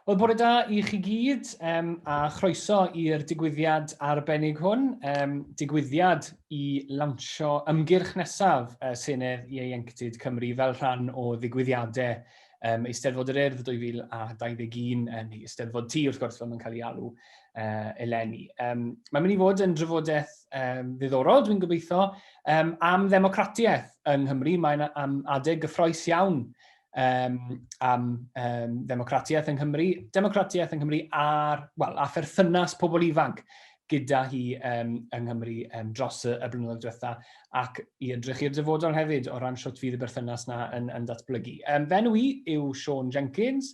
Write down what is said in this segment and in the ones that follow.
Wel, bore da i chi gyd, um, a chroeso i'r digwyddiad arbennig hwn, um, digwyddiad i lansio ymgyrch nesaf uh, Senedd Ieuenctid Cymru fel rhan o ddigwyddiadau um, Eisteddfod yr Urdd 2021, uh, neu Eisteddfod T, wrth gwrs, fel mae'n cael ei alw uh, eleni. Um, mae'n mynd i fod yn drafodaeth um, ddiddorol, dwi'n gobeithio, Um, am ddemocratiaeth yng Nghymru, mae'n am adeg gyffroes iawn um, am um, ddemocratiaeth yng Nghymru, democratiaeth yng Nghymru a'r, well, a pherthynas pobl ifanc gyda hi um, yng Nghymru um, dros y, y blynyddoedd diwetha ac i ydrych i'r dyfodol hefyd o ran sut fydd y berthynas na yn, yn datblygu. Um, fe nhw i yw Sean Jenkins,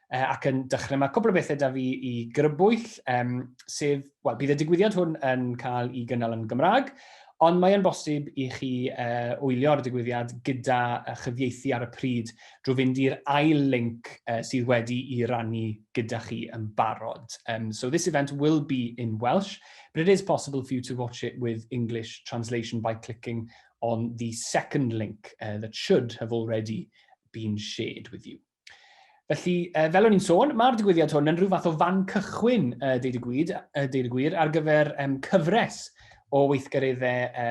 e, ac yn dechrau, mae cwbl o bethau da fi i grybwyll, um, sef, wel, bydd y digwyddiad hwn yn cael ei gynnal yn Gymraeg, ond mae'n bosib i chi uh, wylio'r digwyddiad gyda uh, chyfieithu ar y pryd drwy fynd i'r ail link uh, sydd wedi i rannu gyda chi yn barod. Um, so this event will be in Welsh, but it is possible for you to watch it with English translation by clicking on the second link uh, that should have already been shared with you. Felly, e, fel o'n i'n sôn, mae'r digwyddiad hwn yn rhyw fath o fan cychwyn, e, deud y gwyd, e, deud y gwir, ar gyfer e, cyfres o weithgareddau e,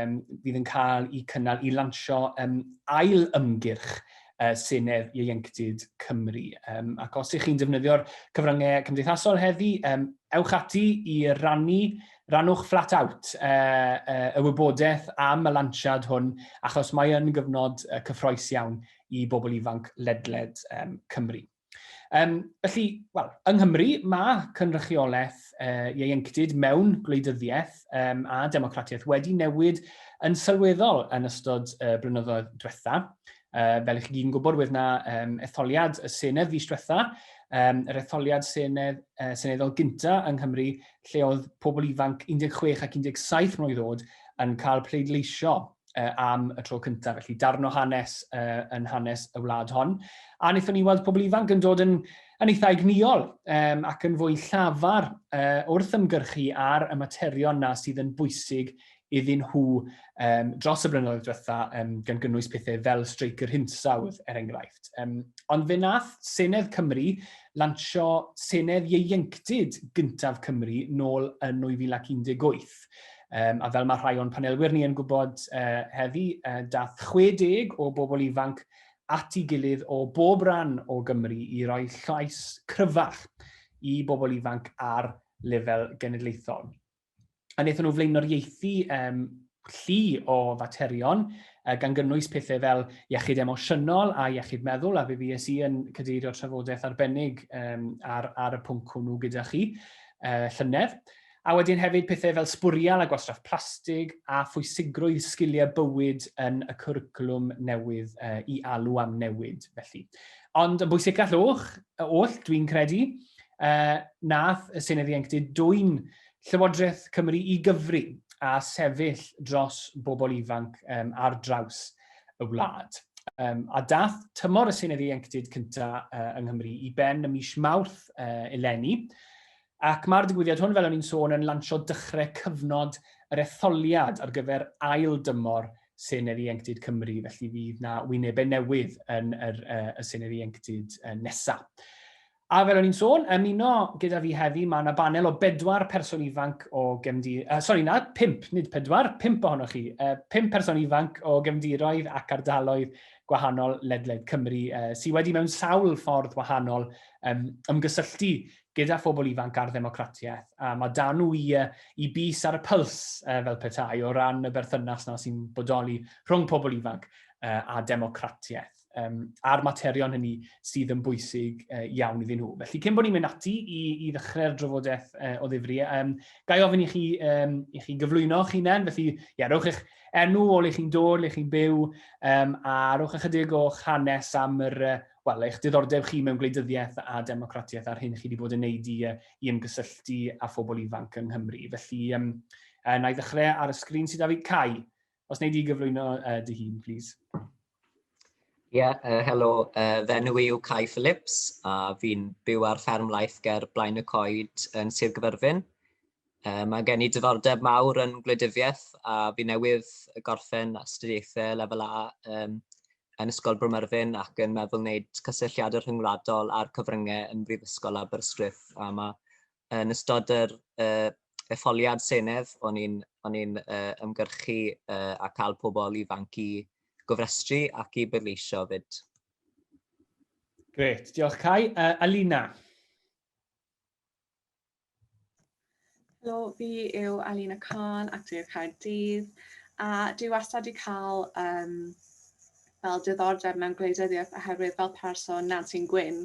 fydd yn cael eu cynnal i lansio e, ail ymgyrch e, Senedd Ieuenctid Cymru. E, ac os ych chi'n defnyddio'r cyfryngau cymdeithasol heddi, e, ewch ati i rannu rannwch flat out e, e, y wybodaeth am y lansiad hwn, achos mae yn gyfnod e, cyffroes iawn i bobl ifanc ledled um, Cymru. Um, felly, wel, yng Nghymru mae cynrychiolaeth uh, ieuenctid mewn gwleidyddiaeth um, a democratiaeth wedi newid yn sylweddol yn ystod uh, blynyddoedd diwetha. Uh, fel i chi gyd gwybod, wedd na um, etholiad y Senedd fis diwetha, um, yr etholiad Senedd, uh, Seneddol gynta yng Nghymru, lle oedd pobl ifanc 16 ac 17 mlynedd oed yn cael pleidleisio uh, am y tro cyntaf, felly darn o hanes uh, yn hanes y wlad hon. A wnaethon ni weld pobl ifanc yn dod yn, yn eitha egnïol um, ac yn fwy llafar uh, wrth ymgyrchu ar y materion na sydd yn bwysig iddyn nhw um, dros y blynyddoedd diwetha, um, gan gynnwys pethau fel streic yr hinsawdd, er enghraifft. Um, ond fe nath Senedd Cymru lansio Senedd Ieuenctid gyntaf Cymru nôl yn 2018. Um, a fel mae rhai o'n panelwyr ni yn gwybod uh, heddi, uh, dath 60 o bobl ifanc at ei gilydd o bob ran o Gymru i roi llais cryfach i bobl ifanc ar lefel genedlaethol. A wnaethon nhw flaenoriaethu um, llu o faterion, uh, gan gynnwys pethau fel iechyd emosiynol a iechyd meddwl, a fe fues i yn cadeirio trafodaeth arbennig um, ar, ar y pwnc hwnnw gyda chi uh, llynedd. A wedyn hefyd pethau fel sbwriel a gwastraff plastig a phwysigrwydd sgiliau bywyd yn y cwricwlwm newydd i alw am newid felly. Ond yn bwysicach llwch y oll, dwi'n credu, nath y Senedd Ieuenctid dwyn Llywodraeth Cymru i gyfri a sefyll dros bobl ifanc ar draws y wlad. A dath tymor y Senedd Ieuenctid cyntaf yng Nghymru i ben ym mis Mawrth eleni, Ac mae'r digwyddiad hwn, fel o'n i'n sôn, yn lansio dychre cyfnod yr etholiad ar gyfer ail dymor Senedd Ieuenctid Cymru, felly fydd 'na wynebe newydd yn yr y Senedd Ieuenctid nesa'. A fel o'n i'n sôn, ymuno gyda fi heddi, mae 'na banel o bedwar person ifanc o gefndi-... Uh, sori, na, pimp, nid pedwar, pimp ohonoch chi. Uh, pimp person ifanc o gefndiroedd ac ardaloedd gwahanol ledled Cymru uh, sydd wedi mewn sawl ffordd wahanol um, ymgysylltu gyda phobl ifanc a'r ddemocratiaeth, a mae 'da nhw i, uh, i bys ar y pyls, uh, fel petai, o ran y berthynas na sy'n bodoli rhwng pobl ifanc uh, a democratiaeth, um, a'r materion hynny sydd yn bwysig uh, iawn iddyn nhw. Felly, cyn bod ni'n mynd ati i, i ddechrau'r drafodaeth uh, o ddifri, um, gai ofyn i chi, um, i chi gyflwyno chi nen, felly, ia, rhowch eich enw o le chi'n dod, le chi'n byw, um, a rhowch ychydig o'ch hanes am yr uh, wel, eich diddordeb chi mewn gwleidyddiaeth a democratiaeth a'r hyn chi wedi bod yn neud i, i ymgysylltu â phobl ifanc yng Nghymru. Felly, um, uh, na i ddechrau ar y sgrin sydd â fi. Cai, os wneud i gyflwyno uh, dy hun, plîs. Ie, yeah, uh, helo, uh, fe nhw yw Cai Phillips a fi'n byw ar fferm laeth ger Blaen y Coed yn Sir Gyfyrfyn. Uh, mae gen i diddordeb mawr yn gwleidyddiaeth a fi newydd gorffen astudiaethau lefel A um, yn Ysgol Bro Myrddin ac yn meddwl wneud cysylltiadau rhyngwladol â'r cyfryngau yn Brifysgol Aberystwyth. A ma, yn ystod yr uh, etholiad Senedd, o'n i'n o'n i'n uh, ymgyrchu uh, a cael pobl ifanc i gofrestru ac i bleidleisio 'fyd. Gret, diolch Cai. Uh, Alina? Helo, fi yw Alina Khan ac dwi o Caerdydd a dwi wastad wedi cael um, fel diddordeb mewn gwleidyddiaeth oherwydd fel person Nancy Gwyn,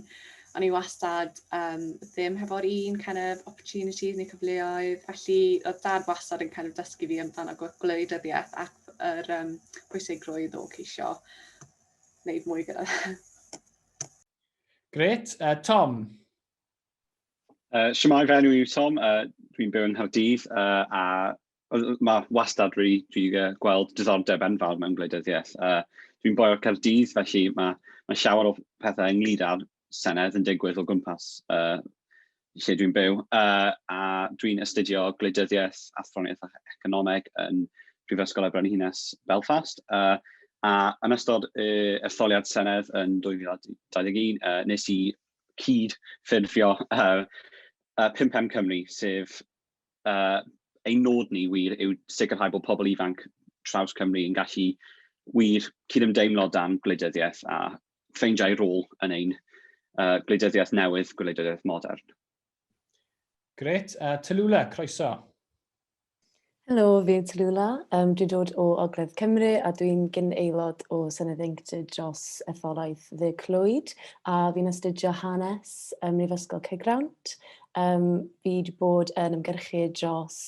o'n i wastad um, ddim hefo'r un kind of opportunities neu cyfleoedd, felly oedd dad wastad yn kind of dysgu fi amdano gwleidyddiaeth ac yr um, pwysigrwydd o ceisio wneud mwy gyda fe. Gret. Uh, Tom? Uh, Siamai, fy enw yw Tom, uh, dwi'n byw yng Nghaerdydd, uh, a mae wastad rhi, rhi uh, gweld diddordeb enfawr mewn gwleidyddiaeth. Uh, dwi'n boi o'r Caerdydd, felly mae, mae llawer o pethau ynglyd â'r Senedd yn digwydd o gwmpas uh, lle dwi'n byw, uh, a dwi'n astudio gwleidyddiaeth, athroniaeth a economeg yn Prifysgol Brenhines Belfast. Uh, a yn ystod uh, etholiad Senedd yn 2021, uh, nes i cyd-ffurfio uh, uh, 5M Cymru, sef uh, ein nod ni wir yw sicrhau bod pobl ifanc traws Cymru yn gallu wir cydymdeimlo dan gwleidyddiaeth a ffeindiau rôl yn ein uh, gwleidyddiaeth newydd, gwleidyddiaeth modern. Gret, a uh, Tallulah, croeso. Helo, fi yw Tallulah, yym dwi'n dod o Ogledd Cymru a dwi'n gyn-aelod o Senedd Ieuenctid dros Etholaeth Dde Clwyd a fi'n astudio Hanes ym Mhrifysgol Caergrawnt. Yym fi 'di bod yn ymgyrchu dros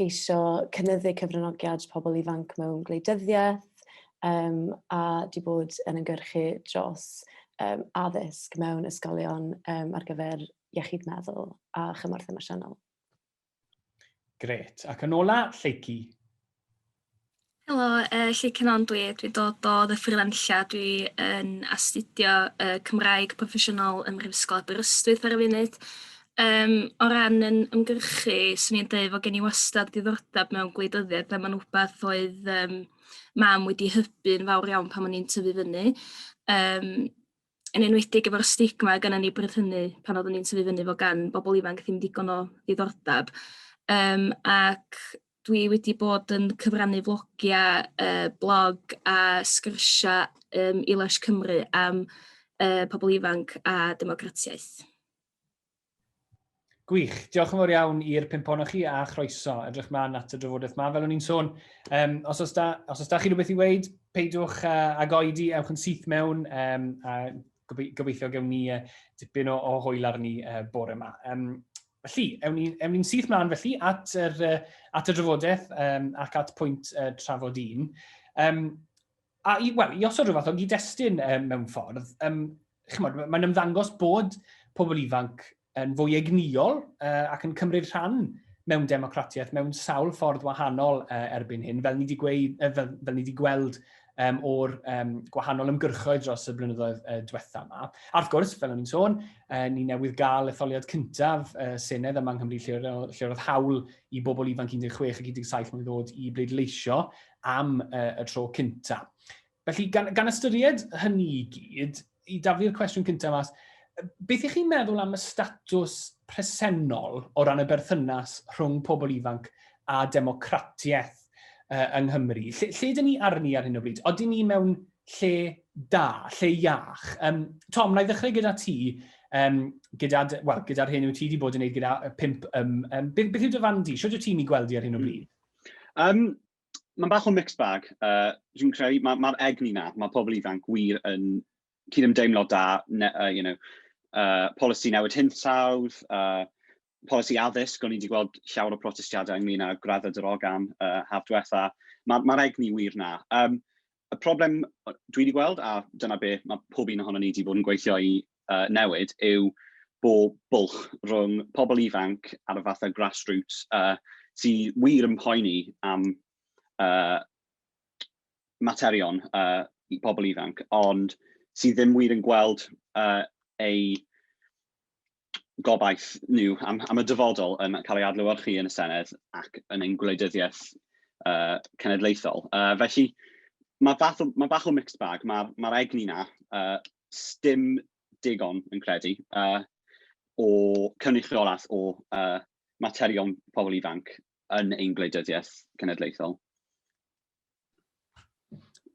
geisio cynyddu cyfranogiad pobl ifanc mewn gwleidyddiaeth yym a 'di bod yn ymgyrchu dros yym addysg mewn ysgolion yym ar gyfer iechyd meddwl a chymorth emosiynol. Gret. Ac yn ola, Lleucu. Helo, uh, Lly Cynon dwi, dwi dod o ddyffryddanlla, dwi yn astudio uh, Cymraeg proffesiynol ym Mhrifysgol Aberystwyth ar y funud. Um, o ran yn ymgyrchu, swn i'n dweud fod gen i wastad diddordeb mewn gwleidyddiaeth a mae'n rhywbeth oedd um, mam wedi hybu'n fawr iawn pan o'n i'n tyfu fyny. Um, yn enwedig efo'r stigma gynnon ni bryd hynny pan oddwn i'n tyfu fyny 'fo gan bobol ifanc ddim digon o ddiddordab yym ac dwi wedi bod yn cyfrannu flogia yy blog a sgyrsia yym i Lush Cymru am yy pobol ifanc a democratiaeth. Gwych. Diolch yn fawr iawn i'r pimp ohonoch chi a chroeso. Edrych mlaen at y drafodaeth yma. Fel o'n i'n sôn, um, os os da, os os da chi rhywbeth i weid, peidiwch uh, ag oedi, ewch yn syth mewn um, a gobeithio gewn ni uh, dipyn o, o hwyl arni uh, bore yma. Um, felly, ewn ni'n ni, syth mlaen felly at, yr, uh, at y drafodaeth um, ac at pwynt uh, trafod un. Um, A i, wel, i osod rhywbeth o gyd-destun um, mewn ffordd, um, chymod, mae'n ymddangos bod pobl ifanc yn fwy egnïol uh, ac yn cymryd rhan mewn democratiaeth mewn sawl ffordd wahanol uh, erbyn hyn, fel ni wedi, gweud, uh, fel, fel ni wedi gweld um, o'r um, gwahanol ymgyrchoedd dros y blynyddoedd uh, diwetha yma. A wrth gwrs, fel o'n i'n sôn, uh, ni newydd gael etholiad cyntaf uh, Senedd yma yng Nghymru lle, lle roedd hawl i bobl ifanc 16 ac 17 mlynedd oed i bleidleisio am uh, y tro cynta. Felly, gan, gan ystyried hynny i gyd, i daflu'r cwestiwn cynta mas, beth ych chi'n meddwl am y statws presennol o ran y berthynas rhwng pobl ifanc a democratiaeth uh, yng Nghymru? Lle, lle dyn ni arni ar hyn o bryd? Oedden ni mewn lle da, lle iach? Um, Tom, na i ddechrau gyda ti, um, gyda, well, gyda'r hyn wyt ti wedi bod yn gwneud gyda pimp, um, um, beth, beth yw dy fan di? Sio dwi ti'n ei gweld i ar hyn o hmm. bryd? Um, mae'n bach o mixed bag. Uh, dwi'n credu, mae'r ma, egni na, mae pobl ifanc wir yn cydymdeimlo da, ne, uh, you know, uh, polisi newid hinsawdd, uh, polisi addysg, o'n i wedi gweld llawer o protestiadau ynglyn â graddau drogan uh, haf diwetha. Mae'r ma, ma egni wir na. Um, y problem dwi wedi gweld, a dyna be mae pob un ohono ni wedi bod yn gweithio i uh, newid yw bod bwlch rhwng pobl ifanc ar y fathau grassroots uh, sydd wir yn poeni am uh, materion uh, i pobl ifanc, ond sydd ddim wir yn gweld uh, ei gobaith nhw am, am y dyfodol yn cael ei adlywyrchu yn y Senedd ac yn ein gwleidyddiaeth uh, cenedlaethol. Uh, felly, mae bach, o, mae bach o mixed bag, mae'r ma egni na uh, sdim digon, fi'n credu, yy o cynrychiolaeth o yy materion pobl ifanc yn ein gwleidyddiaeth cenedlaethol.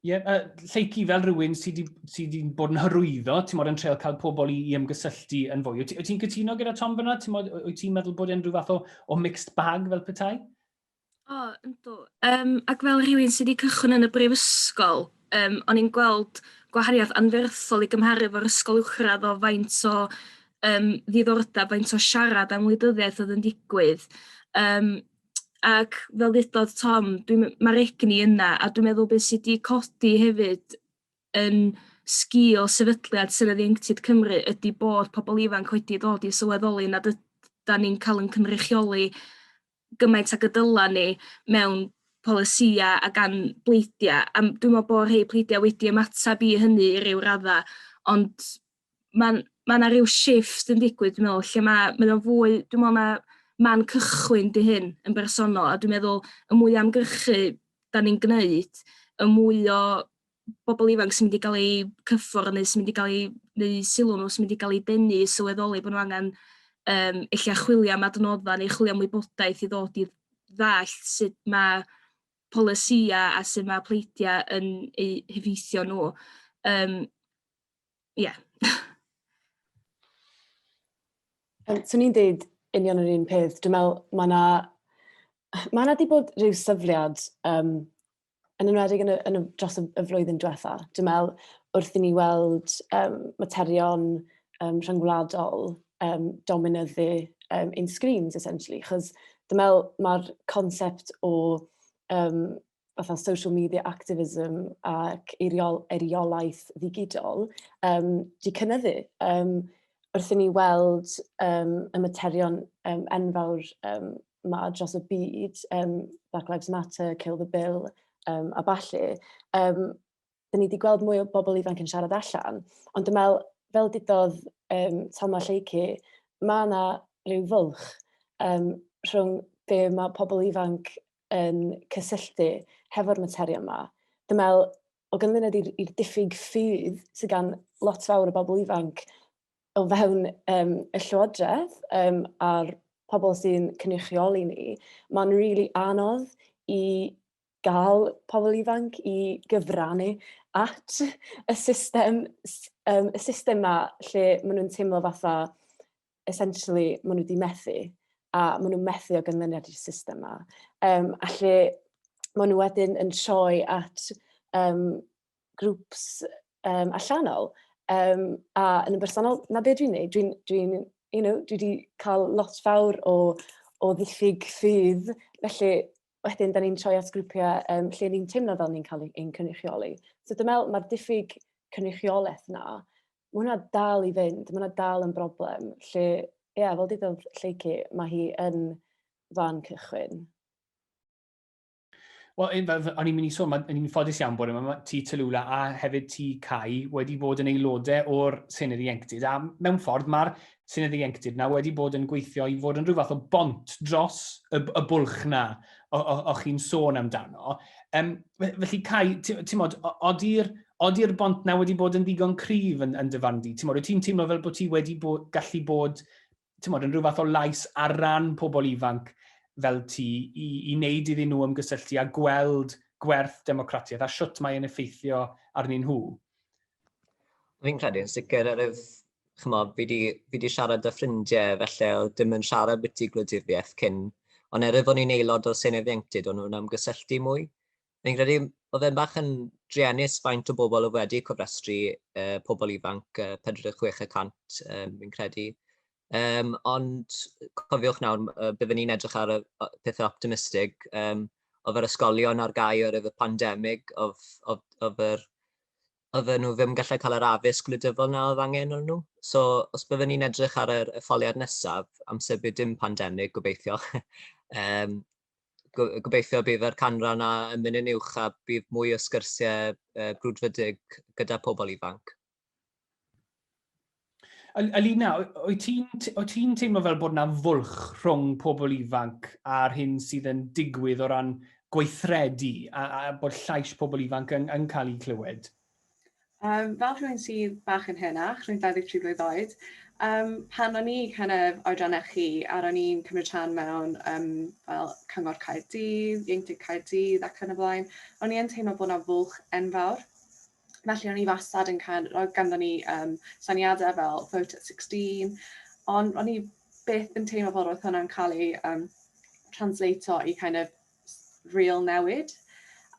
Ie, yeah, uh, lleucu fel rhywun sydd wedi sy bod yn hyrwyddo, ti'n modd yn treol cael pobl i, i ymgysylltu yn fwy. Wyt ti'n cytuno gyda Tom fyna? Ti'n modd, wyt ti'n meddwl bod e'n rhyw fath o, o mixed bag fel petai? O yndw yym ac fel rhywun sy' 'di cychwyn yn y brifysgol yym o'n i'n gweld gwahaniath anferthol i gymharu efo'r ysgol uwchradd o faint o yym ddiddordab faint o siarad am wleidyddiaeth o'dd yn digwydd yym ac fel ddudodd Tom dwi'n me- ma'r egni yna a dwi'n meddwl be' sy' 'di codi hefyd yn sgil sefydliad Senedd Ieuenctid Cymru ydi bod pobol ifanc wedi dod i sylweddoli nad yd- 'dan ni'n ca'l 'yn cynrychioli gymaint ag y dyla ni mewn polisïau a gan bleidiau. A dwi'n meddwl bod rhai pleidiau wedi ymateb i hynny i ryw raddau, ond mae'n mae yna rhyw shift yn digwydd, dwi'n meddwl, lle mae, mae o'n fwy, dwi'n meddwl na man cychwyn di hyn yn bersonol, a dwi'n meddwl y mwy amgrychu da ni'n gwneud, y mwy o bobl ifanc sy'n mynd i gael eu cyffwrdd neu sy'n mynd i gael eu... neu sylw nhw sy'n mynd i gael ei denu i sylweddoli bod nhw angen um, eich chwilio am adnodda neu chwilio am wybodaeth i ddod i ddall sut mae polisia a sut mae pleidiau yn eu hyfeithio nhw. Um, yeah. um, so ni'n dweud union yr un peth. Dwi'n meddwl mae yna mae yna wedi bod rhyw syfliad um, yn enwedig yn y, yn y, dros y, y flwyddyn diwetha. Dwi'n meddwl, wrth i ni weld um, materion um, rhyngwladol um, dominyddu um, in screens, essentially. Chos dwi'n meddwl, mae'r concept o um, fatha social media activism ac eiriol, eiriolaeth ddigidol um, di cynyddu. Um, wrth i ni weld um, y materion um, enfawr um, 'ma dros y byd yym Black Lives Matter, Kill the Bill yym a ballu yym 'dyn ni 'di gweld mwy o bobl ifanc yn siarad allan, ond dwi'n meddwl fel dudodd yym Tom a Lleucu ma' 'na ryw fwlch yym rhwng be ma' pobl ifanc yn cysylltu hefo'r materion 'ma. Dwi'n meddwl o ganlyniad i'r i'r diffyg ffydd sy' gan lot fawr o bobl ifanc o fewn um, y llywodraeth um, a'r pobl sy'n cynrychioli ni, mae'n rili really anodd i gael pobl ifanc i gyfrannu at y system, um, y system ma lle maen nhw'n teimlo fatha essentially maen nhw wedi methu a maen nhw'n methu o gynlyniad i'r system ma. Um, a lle maen nhw wedyn yn troi at um, grwps um, allanol um, a yn y bersonol, na beth dwi'n neud, dwi'n, dwi, you know, dwi wedi cael lot fawr o, o ddiffyg ffydd, felly wedyn da ni'n troi at grwpiau um, lle ni'n teimlo fel ni'n cael ein cynrychioli. So dwi'n meddwl mae'r diffyg cynrychiolaeth na, mae hwnna dal i fynd, mae hwnna dal yn broblem, lle, ie, yeah, fel dydodd Lleici, mae hi yn fan cychwyn. Wel, e, o'n i'n mynd i sôn, o'n i'n ffodus iawn bod yma, ti Talula a hefyd ti Cai wedi bod yn aelodau o'r Senedd Ieuenctid, a mewn ffordd mae'r Senedd Ieuenctid na wedi bod yn gweithio i fod yn rhyw fath o bont dros y, y bwlch na o, o, o chi'n sôn amdano. Um, felly Cai, ti'n modd, odi'r odi bont na wedi bod yn ddigon cryf yn, yn dyfarn di? Ti'n modd, ti'n teimlo fel bod ti wedi bod, gallu bod tymod, yn rhyw fath o lais ar ran pobl ifanc fel ti i, i wneud iddyn nhw ymgysylltu a gweld gwerth democratiaeth a siwt mae'n effeithio arnyn nhw? Fi'n credu yn sicr ar yf, chymod, fi wedi fi di siarad â ffrindiau felly oedd dim yn siarad byti gwleidyddiaeth cyn, ond er yf o'n i'n aelod o Senedd Ieuenctid o'n nhw'n ymgysylltu mwy. Fi'n credu oedd e'n bach yn druenus faint o bobl oedd wedi cofrestru uh, pobl ifanc uh, 46 y cant, um, fi'n credu. Um, ond cofiwch nawr, uh, byddwn ni'n edrych ar y pethau optimistig. Um, oedd yr ysgolion ar gau o'r efo pandemig, oedd, oedd, oedd yr oedden nhw ddim yn gallu cael yr addysg gwleidyddol na oedd angen o'n nhw. So, os byddwn ni'n edrych ar yr etholiad nesaf, amser bydd dim pandemig, gobeithio, um, gobeithio bydd yr canran a yn mynd yn uwch a bydd mwy o sgyrsiau brwdfrydig gyda pobl ifanc. Alina, wyt ti'n teimlo fel bod yna fwlch rhwng pobl ifanc a'r hyn sydd yn digwydd o ran gweithredu a bod llais pobl ifanc yn cael eu clywed? Um, fel rhywun sydd bach yn henach, rhywun 23 blwydd oed, um, pan o'n i kind of oedran eich chi, a ro'n i'n cymryd rhan mewn um, fel Cyngor Caerdydd, Ieuenctid Caerdydd ac yn y blaen, o'n i yn teimlo bod yna fwlch enfawr. Felly o'n i fastad yn cael, roedd ganddo ni um, saniadau fel Vote at 16, ond o'n i beth yn teimlo fod roedd hwnna'n cael ei um, translato i kind of real newid.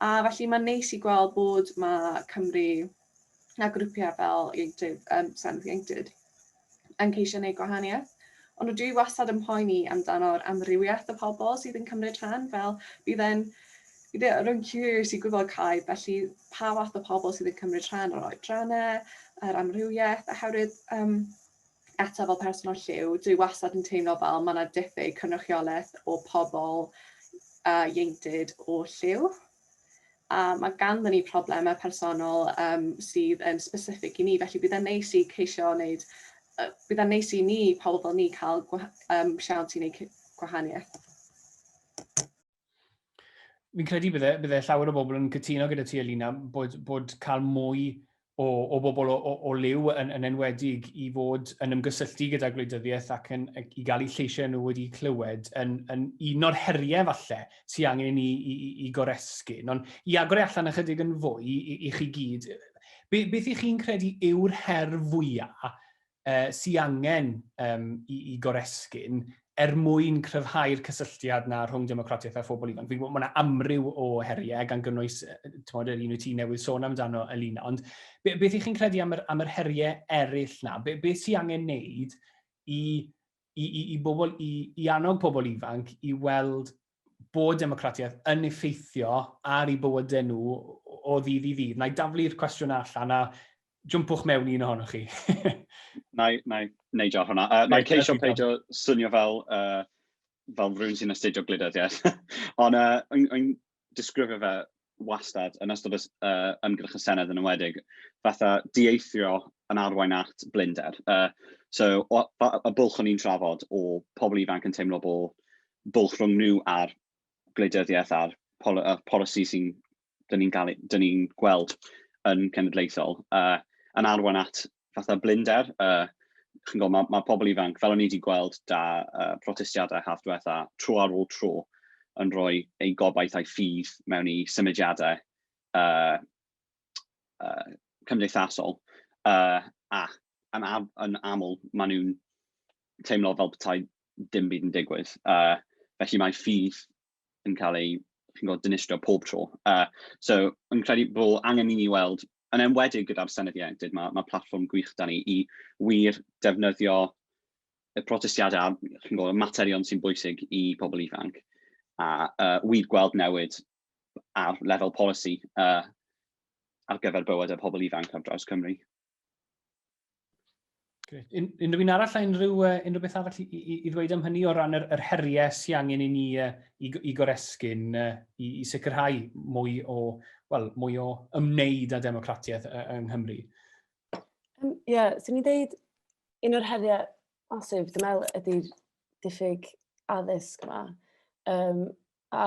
A felly mae'n neis i gweld bod mae Cymru a grwpiau fel Ieuenctid, um, Senedd Ieuenctid yn ceisio gwneud gwahaniaeth. Ond rydw i wastad yn poeni amdano'r amrywiaeth y pobl sydd yn cymryd rhan, fel bydd e'n bydd e, rwy'n curious i gwybod caib, felly pa fath o pobl sydd yn cymryd rhan o'r oedrannau, yr amrywiaeth, oherwydd um, eto fel person o lliw, dwi wastad yn teimlo fel mae yna diffyg cynrychiolaeth o pobl uh, ieuenctid o lliw. A mae ganddyn ni problemau personol um, sydd yn specific i ni, felly bydd yn neis i ceisio wneud, uh, bydd yn neis i ni, pobl fel ni, cael um, siawns i wneud gwahaniaeth. fi'n credu bydde, bydde llawer o bobl yn cytuno gyda ti, Alina, bod, bod cael mwy o, o bobl o, o, o liw yn, yn enwedig i fod yn ymgysylltu gyda gwleidyddiaeth ac yn, i gael eu lleisiau nhw wedi clywed yn, yn un o'r heriau falle sy'n angen ni i, i, i goresgu. Ond i agor e allan ychydig yn fwy i, i chi gyd, be, beth ych chi'n credu yw'r her fwyaf sy angen i goresgyn er mwyn cryfhau'r cysylltiad 'na rhwng democratiaeth a phobl ifanc. Fi'n gwybod mae yna amryw o heriau, gan gynnwys yr un wyt ti newydd sôn amdano, Alina, ond beth ych chi'n credu am yr heriau eraill 'na? Beth sy'n angen wneud i bobl, i annog pobl ifanc i weld bod democratiaeth yn effeithio ar ei bywydau nhw o ddydd i ddydd. Na i daflu'r cwestiwn allan a jwmpwch mewn un ohonoch chi. na, i, na i neidio ar hwnna. Uh, na i ceisio peidio swnio fel, uh, fel rhywun sy'n astudio gwleidyddiaeth. Ond uh, yn, yn disgrifio fe wastad, yn ystod y uh, ymgyrch y Senedd yn ymwedig, fatha dieithrio yn arwain at blinder. Uh, so, o, y bwlch o'n i'n trafod o pobl ifanc yn teimlo bod bwlch rhwng nhw a'r gwleidyddiaeth a'r pol uh, polisi sy'n dyn ni'n ni gweld yn cenedlaethol, uh, yn arwain at fatha blinder. Uh, chi'n gwybod, mae, mae pobl ifanc, fel o'n i wedi gweld da uh, protestiadau haf diwetha, tro ar ôl tro, yn rhoi eu gobaith a'i ffydd mewn i symudiadau uh, uh, cymdeithasol. Uh, a yn, am, yn aml, maen nhw'n teimlo fel petai dim byd yn digwydd. Uh, felly mae ffydd yn cael ei chi'n gwybod, dinistrio pob tro. Uh, so, yn credu bod angen i ni weld, yn enwedig gyda'r Senedd Ieuenctid, mae, mae platfform gwych da ni i wir defnyddio y protestiadau a'r chi'n gwybod, materion sy'n bwysig i pobl ifanc a uh, wir gweld newid ar lefel polisi uh, ar gyfer bywyd y pobl ifanc ar draws Cymru. Gret. Un, unrhyw un arall a unrhyw, uh, unrhyw beth arall i, i, i ddweud am hynny o ran yr, yr heriau sy'n angen i ni uh, i, i goresgyn uh, i, i sicrhau mwy o, well, mwy o ymwneud â democratiaeth uh, yng Nghymru? Ie, um, yeah, sy'n ni'n dweud un o'r heriau masif, dwi'n meddwl, ydy'r diffyg addysg yma. Um, a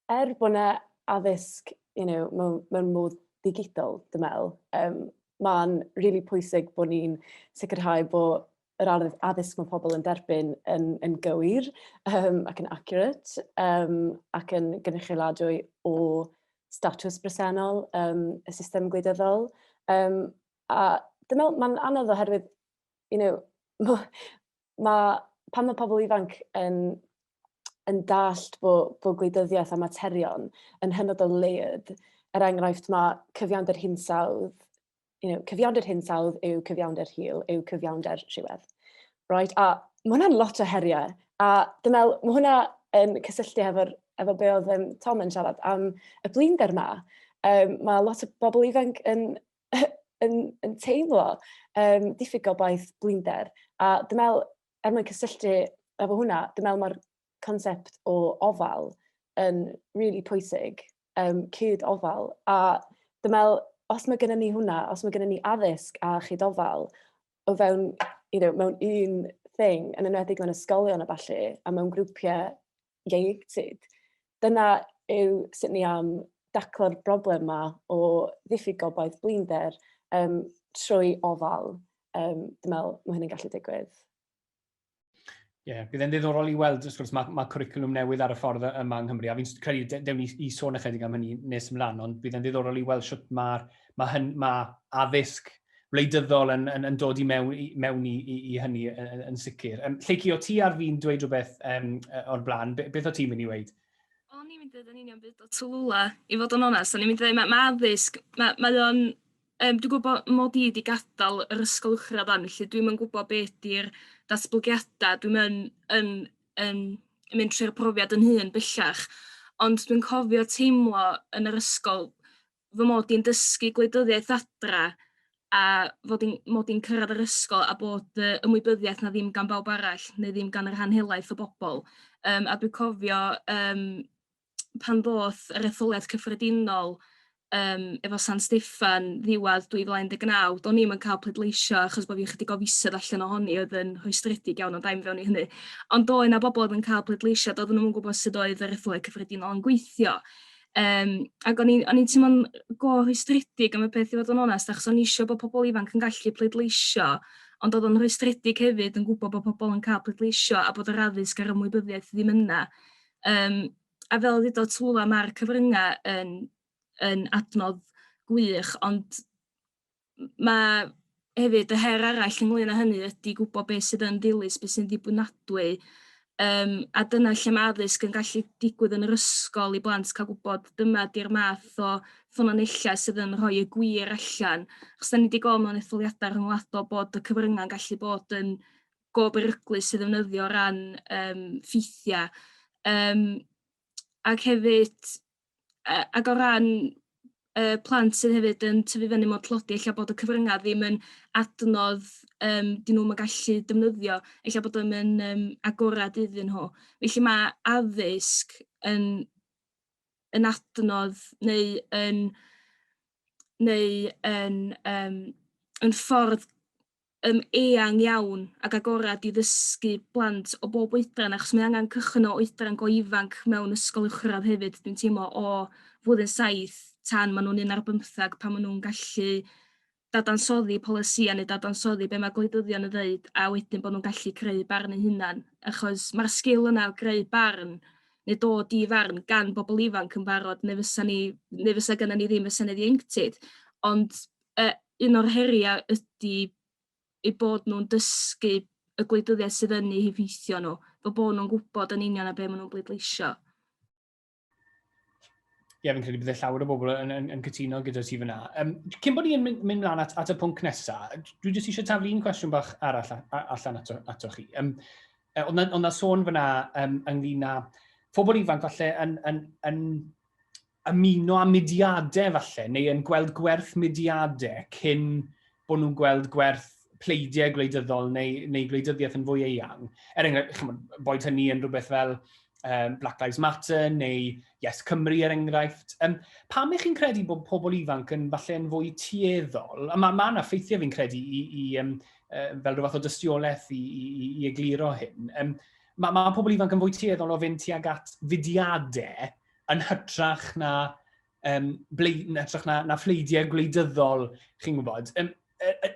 er bod yna addysg you know, mewn, mewn modd digidol, dwi'n meddwl, um, mae'n rili really pwysig bod ni'n sicrhau bod yr addysg mae pobl yn derbyn yn, yn gywir um, ac yn accurate um, ac yn gynrychioladwy o statws bresennol um, y system gwleidyddol. Um, a dwi'n meddwl mae'n anodd oherwydd, you know, ma'... pan ma' pobl ifanc yn yn dallt bod bod gwleidyddiaeth a materion yn hynod o layered, er enghraifft ma' cyfiawnder hinsawdd, you know cyfiawnder hinsawdd yw cyfiawnder hil yw cyfiawnder rhywedd reit a ma' hwnna'n lot o heriau a dwi'n meddwl ma' hwnna yn cysylltu hefo'r efo be oedd yym Tom yn siarad am y blinder 'ma yym ma' lot o bobl ifanc yn yn, yn teimlo um, diffyg o baith blinder. A dwi'n meddwl, er mwyn cysylltu efo hwnna, dwi'n meddwl mae'r concept o ofal yn really pwysig, um, cyd ofal. A dwi'n meddwl, os mae gennym ni hwnna, os mae gennym ni addysg a chyd ofal, o fewn, you know, mewn un thing, yn enwedig mewn ysgolion a falle, a mewn grwpiau ieuenctid. Dyna yw sut ni am daclo'r broblem yma o ddiffyg gobaith blinder um, trwy ofal. Um, dwi'n meddwl mae hynny'n gallu digwydd. Ie, yeah, bydd e'n ddiddorol i weld, wrth gwrs, mae, mae cwricwlwm newydd ar y ffordd yma yng Nghymru, a fi'n credu, dewn ni i sôn ychydig am hynny nes ymlaen, ond bydd e'n ddiddorol i weld sut mae'r mae, hyn, mae addysg wleidyddol yn, yn, yn dod i mewn, i, mewn i, i, i hynny yn, yn sicr. Um, Lleiki, o ti ar fi'n dweud rhywbeth um, o'r blaen, beth o ti'n mynd i weid? O'n i'n mynd i ddweud yn union byd o Tulula, i fod yn onest. O'n i'n mynd i ddweud, mae ma addysg, mae, mae o'n um, dwi'n gwybod mod i wedi gadael yr ysgol uwchradd dan, felly dwi'n yn gwybod beth di'r datblygiadau, dwi'n yn, yn, yn, yn mynd trwy'r profiad yn hun bellach, ond dwi'n cofio teimlo yn yr ysgol fy mod i'n dysgu gwleidyddiaeth adra a fod i'n mod i'n cyrradd yr ysgol a bod yy ymwybyddiaeth 'na ddim gan bawb arall neu ddim gan y rhan helaeth o bobol yym a dwi cofio yym pan ddoth yr etholiad cyffredinol yym efo San Steffan ddiwadd 2019 do'n i'm yn ca'l pleidleisio achos bo' fi chydig o fisoedd allan ohoni oedd yn rhwystredig iawn ond ai'm fewn i hynny ond doedd 'na bobol oedd yn ca'l pleidleisio do'dd nw 'im yn gwbod sud oedd yr etholiad cyffredinol yn gweithio. Um, ac o'n i'n teimlo'n go rhwystredig am y peth i fod yn onest, achos o'n eisiau bod pobl ifanc yn gallu pleidleisio, ond oedd o'n rhwystredig hefyd yn gwybod bod pobl yn cael pleidleisio a bod yr addysg a'r ymwybyddiaeth ddim yna. Um, a fel ddweud o Twla, mae'r cyfryngau yn, yn adnodd gwych, ond ma' hefyd y her arall ynglŷn â hynny ydi gwbo be' sydd yn ddilys be' sy'n ddibynadwy yym a dyna lle ma' addysg yn gallu digwydd yn yr ysgol i blant ca'l gwbod dyma 'di'r math o ffynonella sydd yn rhoi y gwir allan achos 'dan ni 'di gwel' mewn etholiada rhyngwladol bod y cyfrynga'n gallu bod yn go beryglus i ddefnyddio o ran yym ffeithia yym ac hefyd yy ac o ran yy plant sydd hefyd yn tyfu fyny mewn tlodi ella bod y cyfrynga' ddim yn adnodd yym 'dyn nw'm yn gallu defnyddio ella bod o'm yn yym agorad iddyn nhw. Felly ma' addysg yn yn adnodd neu yn neu yn yym yn ffordd yym eang iawn ag agored i ddysgu plant o bob oedran achos mae angen cychwyn o oedran go ifanc mewn ysgol uwchradd hefyd dwi'n teimlo o flwyddyn saith tan ma' nhw'n un ar bymthag pan ma' nhw'n gallu dadansoddi polisïau neu dadansoddi be' ma' gwleidyddion yn ddeud a wedyn bo' nhw'n gallu creu barn eu hunan achos ma'r sgil yna o greu barn neu dod i farn gan bobol ifanc yn barod ne' fysa ni ne' fysa gynnon ni ddim y senedd ieuenctid ond e, un o'r heriau ydy ei bod nhw'n dysgu y gwleidyddiaeth sydd yn eu heffeithio nhw, fo bod nhw'n gwybod yn union a be maen nhw'n bleidleisio. Ie, fi'n credu bod e llawer o bobl yn, yn, yn cytuno gyda ti fyna. Um, cyn bod ni'n mynd, mynd mlaen at, at y pwnc nesaf, dwi jyst eisiau taflu un cwestiwn bach arall allan ato, ato chi. Um, ond na, on na sôn fyna um, ynglyn â phobl ifanc falle yn, yn, yn, ymuno â mudiadau falle, neu yn gweld gwerth mudiadau cyn bod nhw'n gweld gwerth pleidiau gwleidyddol neu, neu gwleidyddiaeth yn fwy eang. Er enghraifft, boed hynny yn rhywbeth fel um, Black Lives Matter neu Yes Cymru er enghraifft. Um, pam ych chi'n credu bod pobl ifanc yn falle yn fwy tueddol? A mae ma yna ffeithiau fi'n credu i, i um, uh, fel rhywbeth o dystiolaeth i, i, i, i egluro hyn. Um, mae ma pobl ifanc yn fwy tueddol o fynd tuag at fudiadau yn hytrach na, um, bleid, yn hytrach na, na phleidiau gwleidyddol, chi'n gwybod. Um,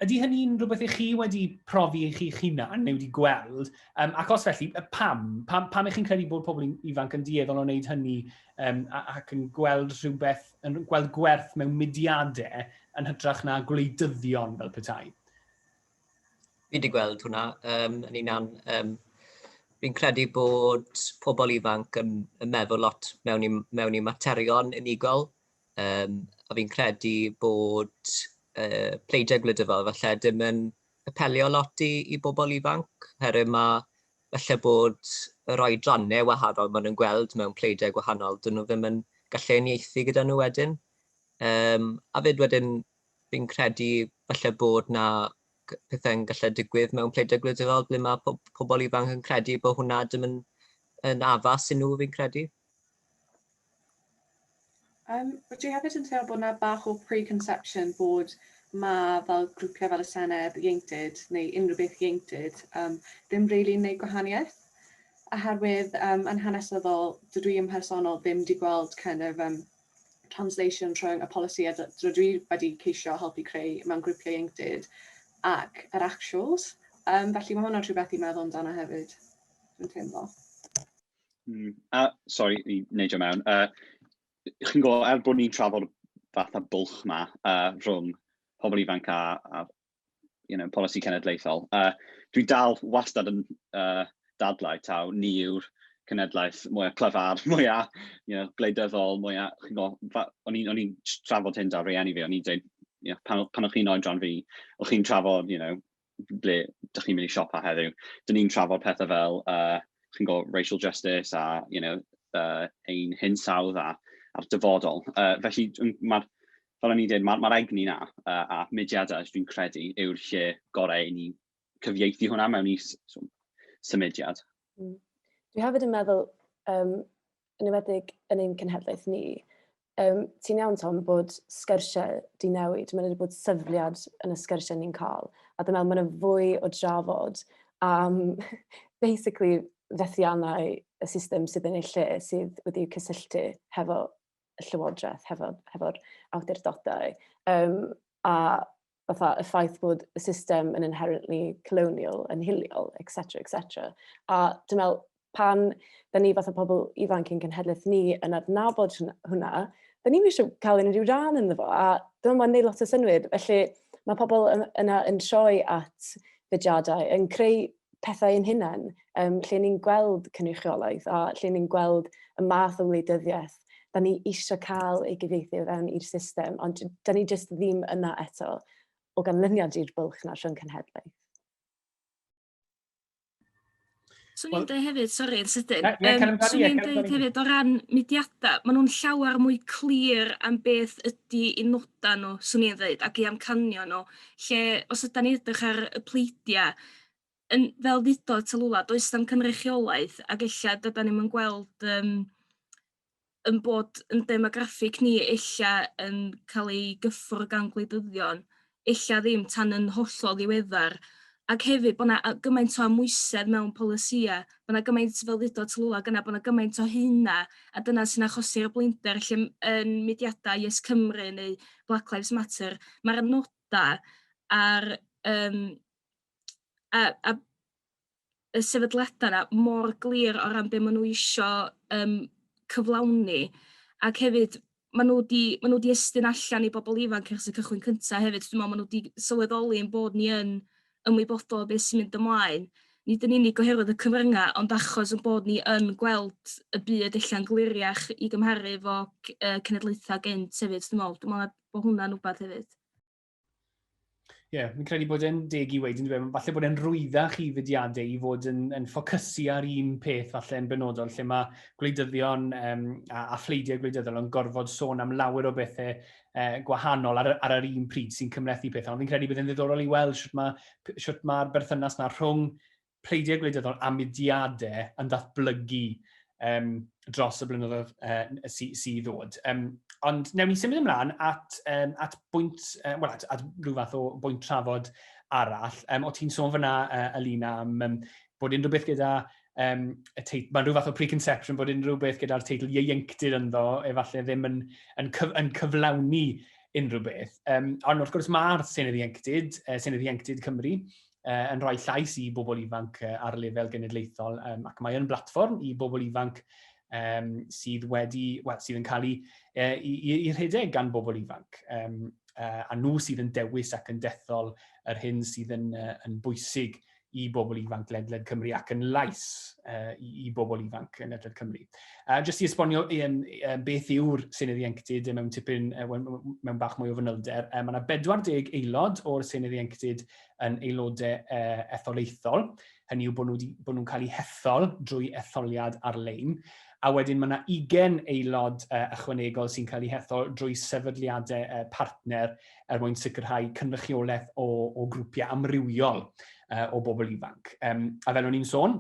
ydy hynny'n rhywbeth i chi wedi profi i chi'ch hunan neu wedi gweld? Um, ac os felly, pam? Pam, pam ych chi'n credu bod pobl ifanc yn dieddol o wneud hynny um, ac yn gweld rhywbeth, yn gweld gwerth mewn mudiadau yn hytrach na gwleidyddion fel petai? fi wedi gweld hwnna um, yn unan. Um, fi'n credu bod pobl ifanc yn, yn meddwl lot mewn i, mewn i materion unigol. Um, a fi'n credu bod uh, pleidiau gwleidyddol falle dim yn apelio lot i, i bobl ifanc, herwydd mae falle bod yr oedrannau wahanol maen nhw'n gweld mewn pleidiau gwahanol, dyn nhw ddim yn gallu uniaethu gyda nhw wedyn. Um, a fyd wedyn, fi'n credu falle bod na pethau'n gallu digwydd mewn pleidiau gwleidyddol ble mae po pobl ifanc yn credu bod hwnna ddim yn, yn addas i nhw fi'n credu. Um, wyt ti hefyd yn teimlo bod yna bach o preconception bod mae fel grwpiau fel y Senedd ieuenctid neu unrhyw beth ieuenctid um, ddim rili'n really gwneud gwahaniaeth? Oherwydd um, yn hanesyddol, dydw i yn personol ddim wedi gweld kind of, um, translation rhwng y polisi a dwi dwi wedi ceisio helpu creu mewn grwpiau ieuenctid ac yr actuals. Um, felly mae hwnna'n rhywbeth i meddwl amdano hefyd, dwi'n teimlo. Mm, a, sorry, i wneud o mewn. Uh, chi'n gwybod, er bod ni'n trafod fath a bwlch ma uh, rhwng pobl ifanc a, a, you know, polisi cenedlaethol. Uh, dwi dal wastad yn uh, dadlau taw ni yw'r cenedlaeth mwyaf clyfar, mwyaf you know, gwleidyddol, mwyaf... Chi'n gwybod, o'n i'n trafod hyn da rhieni fi, o'n i'n dweud, you know, pan, pan o'ch chi'n oedran fi, o'ch chi'n trafod, you know, ble dych chi'n mynd i siopa heddiw. Dyn ni'n trafod pethau fel, uh, chi'n gwybod, racial justice a, you know, uh, ein hinsawdd a, a'r dyfodol. Uh, felly, mae'r fel o'n i'n dweud, mae'r ma egni na a, a mudiadau, dwi'n credu, yw'r lle gorau i ni cyfieithu hwnna mewn i symudiad. Mm. Dwi hefyd yn meddwl, um, yn ymwedig yn ein cenhedlaeth ni, um, ti'n iawn Tom bod sgyrsiau di newid, mae'n wedi bod syfliad yn y sgyrsiau ni'n cael, a dwi'n meddwl mae'n fwy o drafod am basically fethiannau y system sydd yn ei lle sydd wedi cysylltu hefo y llywodraeth, hefo'r hefo awdurdodau. Um, a fatha y ffaith bod y system yn inherently colonial, yn hiliol, etc, etc. A dwi'n meddwl, pan da ni fath o pobl ifanc yn cenhedlaeth ni yn adnabod hwnna, da ni'n eisiau cael unrhyw rhan yn fo, a dwi'n meddwl neud lot o synwyr. Felly mae pobl yna yn troi at fudiadau, yn creu pethau yn hunain, um, lle ni'n gweld cynrychiolaeth a lle ni'n gweld y math o wleidyddiaeth da ni eisiau cael ei gyfeithi fewn i'r system, ond da ni jyst ddim yna eto o ganlyniad i'r bylch na rhwng cenhedlaeth. Swn i'n dweud hefyd, sori, yn sydyn, um, swn i'n dweud hefyd o ran mudiadau, maen nhw'n llawer mwy clir am beth ydy i nodau nhw, swn i'n dweud, ac i amcanio nhw. lle os ydan ni edrych ar y pleidia yn fel ddudodd Talula does na'm cynrychiolaeth ag ella dydan ni'm yn gweld yym yn bod yn demograffig ni ella yn cael ei gyffwr gan gwleidyddion ella ddim tan yn hollol ddiweddar ac hefyd bod 'na gymaint o amwysedd mewn polisia bo' 'na gymaint fel ddudodd Tallulah gyna bo' 'na gymaint o hyn a a dyna sy'n achosi'r blinder lle m- yn mudiada YesCymru neu Black Lives Matter ma'r noda a'r yym a a y sefydliada 'na mor glir o ran be' ma' n'w isio yym cyflawni ac hefyd ma' nw 'di ma' nw 'di estyn allan i bobol ifanc ers y cychwyn cynta hefyd dwi me'wl ma' nw 'di sylweddoli ein bod ni yn ymwybodol o be' sy'n mynd ymlaen, nid yn unig oherwydd y cyfrynga' ond achos 'yn bod ni yn gweld y byd ella'n gliriach i gymharu efo c- yy cenedlaetha gynt hefyd dwi me'wl dwi me'wl ma' bo' hwnna'n wbath hefyd. Ie, yeah, fi'n credu bod e'n deg i weid yn dweud, falle bod e'n rwyddach i fudiadau i fod yn, yn ffocysu ar un peth falle yn benodol, lle mae gwleidyddion um, a, a phleidiau gwleidyddol yn gorfod sôn am lawer o bethau uh, gwahanol ar, ar yr un pryd sy'n cymlethu pethau. Ond fi'n credu bod e'n ddiddorol i weld sut mae'r ma, ma berthynas na rhwng pleidiau gwleidyddol a mudiadau yn datblygu um, dros y blynyddoedd uh, sydd sy ddod. Um, ond newn ni symud ymlaen at, um, at bwynt, uh, well, at, at rhyw fath o bwynt trafod arall. Um, o ti'n sôn fyna, uh, Alina, am um, bod unrhyw beth gyda um, y teitl, mae'n rhyw fath o preconception bod unrhyw beth gyda'r teitl ieuenctid ynddo, efallai ddim yn, yn, cyf, yn cyflawni unrhyw beth. Um, ond wrth gwrs mae'r Senedd Ieuenctid, uh, Senedd Ieuenctid Cymru, uh, yn rhoi llais i bobl ifanc uh, ar lefel genedlaethol um, ac mae'n blatfform i bobl ifanc um, sydd wedi, well, sydd yn cael ei, uh, i, i, i rhedeg gan bobl ifanc. Um, uh, a nhw sydd yn dewis ac yn dethol yr hyn sydd yn, uh, yn bwysig i bobl ifanc ledled Cymru ac yn lais uh, i, i bobl ifanc yn ledled Cymru. Uh, jyst i esbonio um, um, beth yw'r Senedd Ieuenctid mewn tipyn uh, mewn bach mwy o fanylder, um, mae yna 40 aelod o'r Senedd Ieuenctid yn aelodau etholaethol, hynny yw bod nhw wedi, bod nhw'n cael eu hethol drwy etholiad ar-lein, a wedyn mae yna 20 aelod ychwanegol sy'n cael eu hethol drwy sefydliadau partner er mwyn sicrhau cynrychiolaeth o, o grwpiau amrywiol o bobl ifanc. Um, a fel o'n i'n sôn,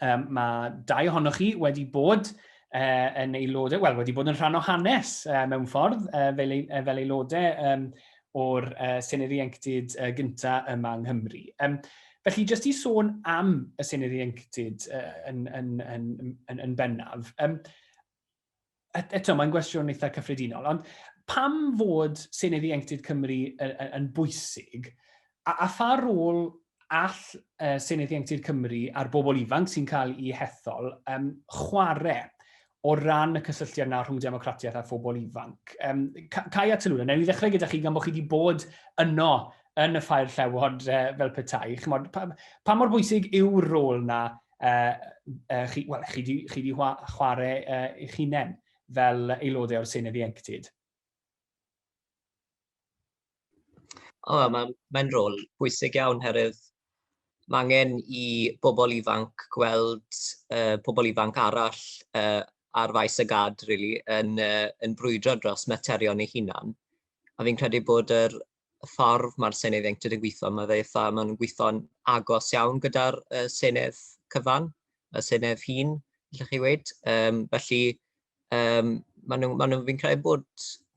um, mae dau ohonoch chi wedi bod uh, yn aelodau, wel, wedi bod yn rhan o hanes uh, mewn ffordd uh, fel, uh, fel aelodau um, o'r uh, Senedd Ieuenctid uh, gyntaf yma yng Nghymru. Um, felly, jyst i sôn am y Senedd Ieuenctid uh, yn, yn, yn, yn, yn bennaf, um, eto, mae'n gwestiwn eitha cyffredinol, ond pam fod Senedd Ieuenctid Cymru yn bwysig, a, a pha rôl all uh, Senedd Ieuenctid Cymru a'r bobl ifanc sy'n cael ei hethol um, chwarae o ran y cysylltiad na rhwng democratiaeth a phobl ifanc. Um, Cai a Tylwyn, newn ni ddechrau gyda chi gan bod chi wedi bod yno yn y ffair llewod uh, fel petai. Chymod, pa, pa mor bwysig yw'r rôl na uh, uh, chi, well, chi, di, chi di chwarae uh, eich hunain fel aelodau o'r Senedd Ieuenctid? O, oh, mae'n mae rôl bwysig iawn herwydd mae angen i bobl ifanc gweld uh, pobl ifanc arall uh, ar faes y gad, really, yn, uh, yn brwydro dros materion ei hunan. A fi'n credu bod yr y ffordd mae'r Senedd Ieuenctid yn gweithio, mae fe eitha, maen nhw'n gweithio'n agos iawn gyda'r uh, Senedd cyfan, y Senedd hun, allwch chi weid. Um, felly, um, maen nhw, maen nhw, fi'n credu bod,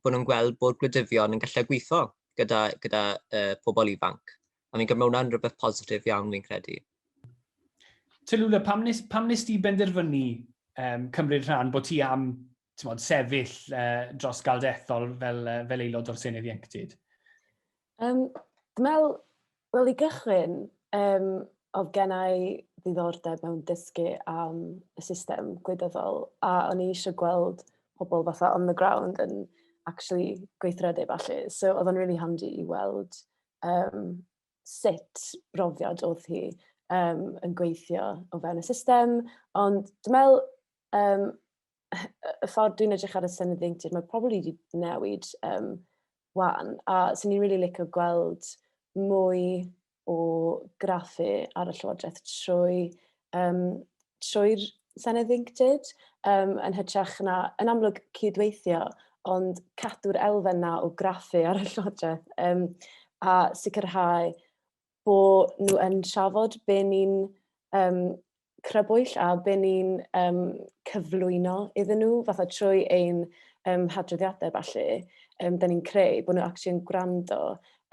bod nhw'n gweld bod gwleidyddion yn gallu gweithio gyda, gyda uh, pobl ifanc. A fi'n credu mae hwnna'n rhywbeth positif iawn fi'n credu. Tylwla, pam nes, pam nes ti benderfynu um, cymryd rhan bod ti am tmod, sefyll uh, dros galdethol fel, uh, fel aelod o'r Senedd Ieuenctid? Um, Dwi'n wel i gychwyn, um, oedd gen i ddiddordeb mewn dysgu am y system gwleidyddol a o'n i eisiau gweld pobl fatha on the ground yn actually gweithredu falle. So oedd o'n really handy i weld um, sut brofiad oedd hi um, yn gweithio o fewn y system. Ond dwi'n meddwl, um, y ffordd dwi'n edrych ar y syniad ddeintydd, mae probably wedi newid um, wan, a sy'n ni'n really licio gweld mwy o graffu ar y llywodraeth trwy, um, trwy'r Senedd Ddeintydd, um, yn hytrach na, yn amlwg cydweithio, ond cadw'r elfen na o graffu ar y llywodraeth um, a sicrhau bo nhw yn trafod be ni'n um, crybwyll a be ni'n um, cyflwyno iddyn nhw, fatha trwy ein um, hadroddiadau falle, um, da ni'n creu, bod nhw actually yn gwrando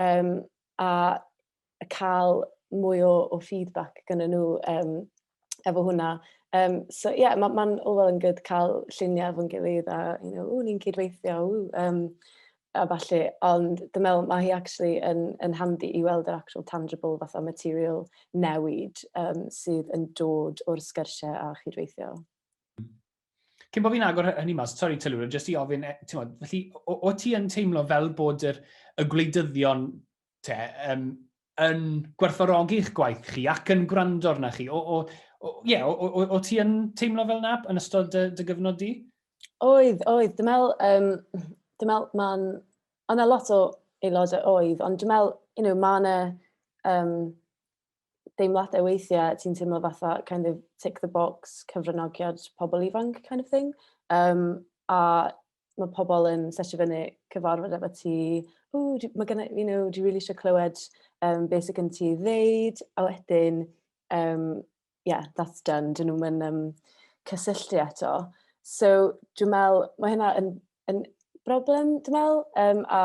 um, a cael mwy o, o feedback gyda nhw um, efo hwnna. Yym so ie ma' ma'n all well and good cael lluniau efo'n gilydd a you know "ww ni'n cyd-weithio ww" yym a ballu. Ond dwi'n meddwl ma' hi acshyli yn yn handi i weld yr actual tangible fatha material newid yym sydd yn dod o'r sgyrsiau a chyd-weithio. Cyn bo' fi'n agor hynny mas, sori Telura, jyst i ofyn, e- t'mod, felly o- o't ti yn teimlo fel bod yr y gwleidyddion te, um, yn gwerthfawrogi'ch gwaith chi ac yn gwrando arna chi. O, o, o, yeah, o, o, o ti yn teimlo fel nab yn ystod dy, dy gyfnod di? Oedd, oedd. Dwi'n meddwl, um, dwi'n meddwl mae'n... Ond yna lot o aelodau oedd, ond dwi'n meddwl, you know, mae'n... Um, deimladau weithiau ti'n teimlo fatha kind of tick the box cyfranogiad pobl ifanc kind of thing um, a mae pobl yn sesio fyny cyfarfod efo ti o mae gen i you know dwi really eisiau clywed um, beth sydd gen ti ddeud a wedyn um, yeah that's done dyn nhw'n mynd um, cysylltu eto so dwi'n meddwl mae hynna yn, yn broblem dwi'n meddwl um, a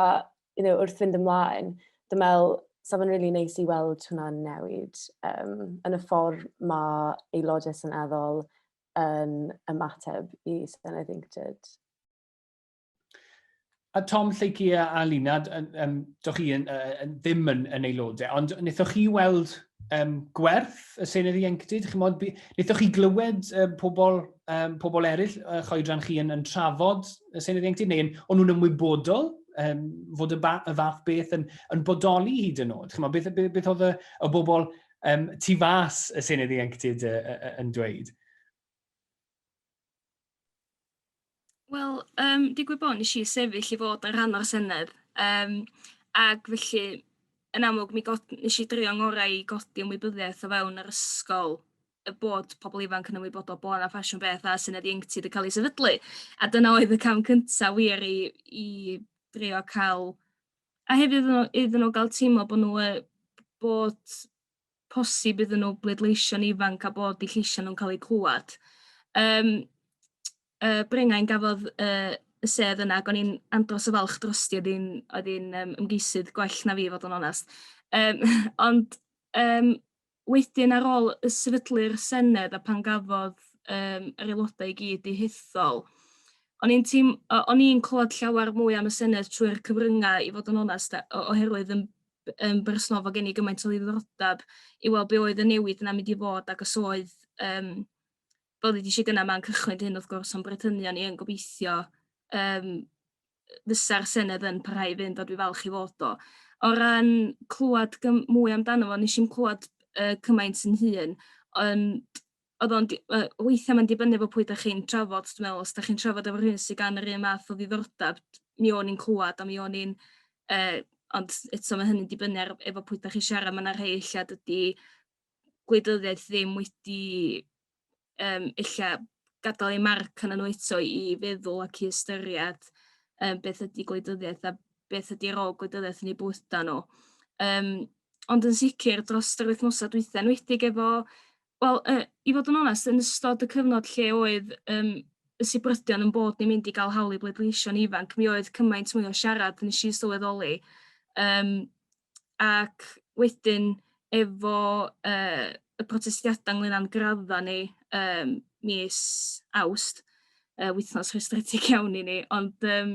you know, wrth fynd ymlaen, dwi'n meddwl, sa fo'n really neis i weld hwnna'n newid um, yn y ffordd mae aelodau seneddol yn ymateb i Senedd Inctid. A Tom, Lleuci a Alina, um, doch chi yn, uh, ddim yn, yn aelodau, ond wnaethoch chi weld um, gwerth y Senedd Ieuenctid? Chymod, wnaethoch chi glywed um, pobl um, pobl eraill uh, choedran chi yn, yn trafod y Senedd Ieuenctid, neu o'n nhw'n ymwybodol um, fod y, ba, y fath beth yn, yn bodoli hyd yn oed? Chymod, beth, beth, beth oedd y, y bobl um, tu fas y Senedd Ieuenctid uh, uh, yn dweud? Wel, um, digwydd bod nes i sefyll i fod yn rhan o'r Senedd, um, ac felly yn amlwg mi god, nes i drio ngorau i godi ymwybyddiaeth o fewn yr ysgol y bod pobl ifanc yn ymwybodol bod 'na ffasiwn beth a syniad ieuenctid yn cael ei sefydlu. A dyna oedd y cam cyntaf wir i, i drio cael... A hefyd iddyn nhw, iddyn nhw gael teimlo bod nhw e, bod posib iddyn nhw bleidleisio'n ifanc a bod eu lleisiau nhw'n cael eu clywed. Um, uh, Brengau'n gafodd uh, y sedd yna ac o'n i'n andros o falch drosti oedd hi'n um, ymgeisydd gwell na fi fod yn onest. Um, ond um, Wedyn ar ôl y sefydlu'r Senedd a pan gafodd um, yr aelodau i gyd i hethol, o'n i'n team, o'n i'n clywed llawer mwy am y Senedd trwy'r cyfryngau i fod yn onest oherwydd yn, yn bersonol fod gen i gymaint o ddiddordeb i weld be oedd y newid yna mynd i fod ac os oedd um, fel ddweud eisiau gyna mae'n cychwyn hyn wrth gwrs o'n brethynion ni yn gobeithio um, fysa'r Senedd yn parhau i fynd a dwi falch i fod o. O ran clywed gym- mwy amdano fo nes i'm clywed uh, cymaint yn hun ond oedd o'n di- yy weithia' ma'n dibynnu efo pwy 'dach chi'n trafod dwi'n meddwl os 'dach chi'n trafod efo rhywun sydd gan yr un math o ddiddordeb mi o'n i'n clywed a mi o'n i'n uh, ond eto mae hynny'n dibynnu ar efo pwy 'dach chi'n siarad ma' 'na rhei ella dydi gwleidyddiaeth ddim wedi um, illa gadael ei marc yn nhw eto i feddwl ac i ystyried um, beth ydy gwleidyddiaeth a beth ydy rôl gwleidyddiaeth yn ei bwyta nhw. Um, ond yn sicr dros yr wythnosau dwytha yn wedig efo, wel, uh, i fod yn onest, yn ystod y cyfnod lle oedd um, y sibrydion yn bod ni'n mynd i gael hawl i bleidleisio'n ifanc, mi oedd cymaint mwy o siarad nes i sylweddoli um, ac wedyn efo yy y protestiada ynglŷn â'n gradda ni yym mis Awst yy wythnos rhestredig iawn i ni ond yym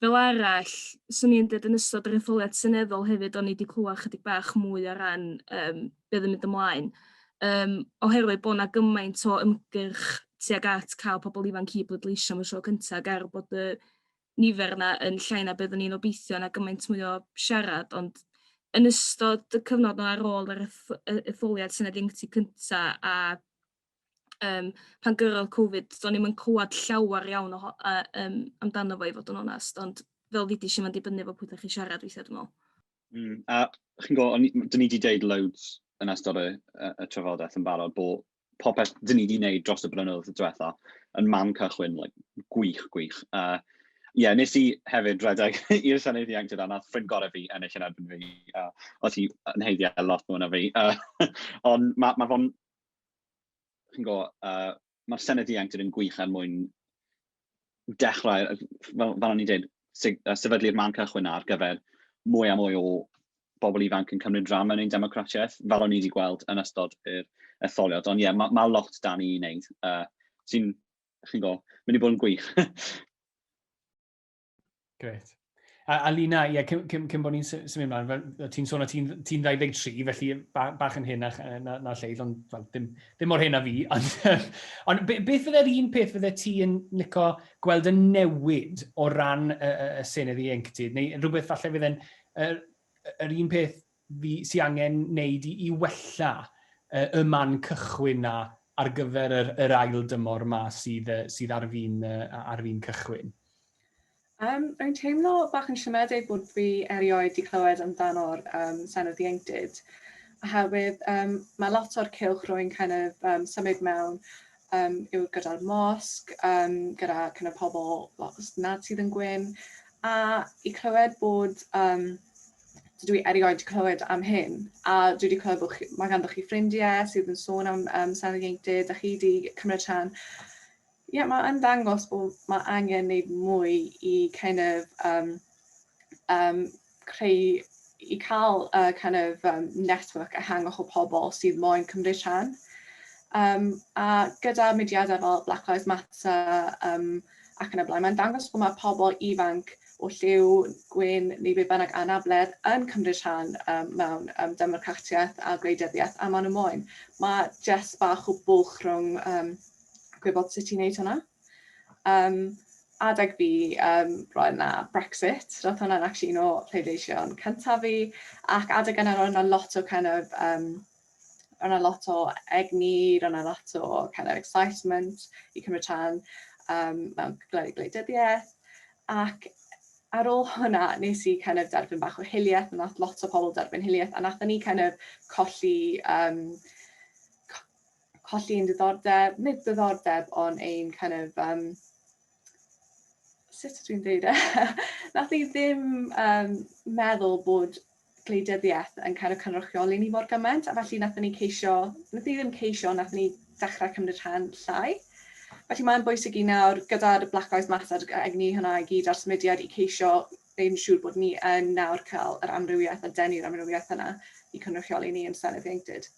fel arall swn i'n deud yn ystod yr etholiad seneddol hefyd o'n i 'di clywed chydig bach mwy o ran yym be' yn mynd ymlaen yym oherwydd bod 'na gymaint o ymgyrch tuag at cael pobl ifanc i bleidleisio am y tro cynta' ag er bod y nifer yna yn llai na byddwn ni'n obeithio na gymaint mwy o siarad, ond yn ystod y cyfnod yna ar ôl yr etholiad Senedd Ieuenctid cynta a um, pan gyrrodd Covid, do'n ni'n mynd clywed llawer iawn o, uh, um, amdano fo i fod yn onest, ond fel fi di si mae'n dibynnu fo pwy ydych chi siarad weithiau dwi'n meddwl. Mm, a chi'n gwybod, dyn ni wedi deud loads yn ystod y, y, y trafodaeth yn barod bod popeth dyn ni wedi wneud dros y blynyddoedd diwetha yn man cychwyn, like, gwych, gwych. Uh, Ie, yeah, nes i hefyd redeg i'r Senedd Ieuenctid a nath ffrind gorau fi ennill yn erbyn fi. Uh, oedd hi yn heiddi ar lot mwy na fi. Uh, ond mae ma fo'n... Chi'n go, uh, mae'r Senedd Ieuenctid yn gwych er mwyn dechrau, fel, fel o'n i'n dweud, sefydlu'r man cychwyn ar gyfer mwy a mwy o bobl ifanc yn cymryd rhan mewn ein democratiaeth, fel o'n i wedi gweld yn ystod yr etholiad. Ond ie, yeah, mae ma lot da ni i wneud, uh, sy'n, chi'n go, mynd i bod yn gwych. Gret. A, a Lina, ie, cyn, cyn, cyn bod ni'n symud ymlaen, ti'n sôn o ti'n ti 23, felly ba, bach yn hyn na, na, na lleill, ond well, dim, dim mor hyn a fi. Ond, ond be, beth fydde'r un peth fydde ti yn nico gweld yn newid o ran y, y, y senedd ieuenctid, neu rhywbeth falle fydde'n yr, yr un peth sy angen wneud i i wella y y man cychwyn 'na ar gyfer yr yr ail dymor 'ma sydd yy sydd ar fin yy a- ar fin cychwyn? Yym rwy'n teimlo bach yn siomedig bod fi erioed 'di clywed amdano'r yym Senedd Ieuenctid oherwydd yym ma' lot o'r cylch rwy'n kind of yym symud mewn yym yw gyda'r mosg yym gyda kind of pobol lot nad sydd yn gwyn a i clywed bod yym dydw i erioed wedi clywed am hyn, a dwi wedi clywed bod chi, mae ganddo chi ffrindiau sydd yn sôn am um, San Ieuenctid, a chi wedi cymryd rhan. Ie, yeah, mae yn dangos bod mae angen wneud mwy i kind of, um, um, creu, i cael uh, kind of um, network ehangach o pobl sydd moyn cymryd rhan. Um, a gyda mudiadau fel Black Lives Matter um, ac yn y blaen, mae'n dangos bod mae pobl ifanc o lliw, gwyn neu be bynnag anabledd yn cymryd rhan um, mewn um, democratiaeth a gwleidyddiaeth a maen nhw moyn. Mae jes bach o bwlch rhwng um, gwybod sut i'n neud hwnna. Um, adeg fi, um, roedd yna Brexit, roedd hwnna'n actually un o pleidleision cyntaf fi, ac adeg yna roedd yna lot o kind of, um, Roedd yna lot o egni, roedd yna lot o kind of excitement i cymryd rhan um, mewn cyfleoedd gwleidyddiaeth. Ac ar ôl hwnna, nes i kind of derbyn bach o hiliaeth, nath lot o pobl derbyn hiliaeth, a nath ni kind of colli, um, colli ein diddordeb, nid diddordeb, ond ein kind of um, sut ydw i'n dweud e? Nath ni ddim um, meddwl bod gwleidyddiaeth yn kind of cynrychioli ni mor gymaint a felly nathon ni ceisio, nathon ni ddim ceisio, nathon ni dechrau cymryd rhan llai. Felly mae'n bwysig i nawr gyda'r Black Lives Matter a egni hynna i gyd a'r symudiad i ceisio ein siŵr bod ni yn nawr cael yr amrywiaeth a denu'r amrywiaeth yna i cynrychioli ni yn Senedd Ieuenctid.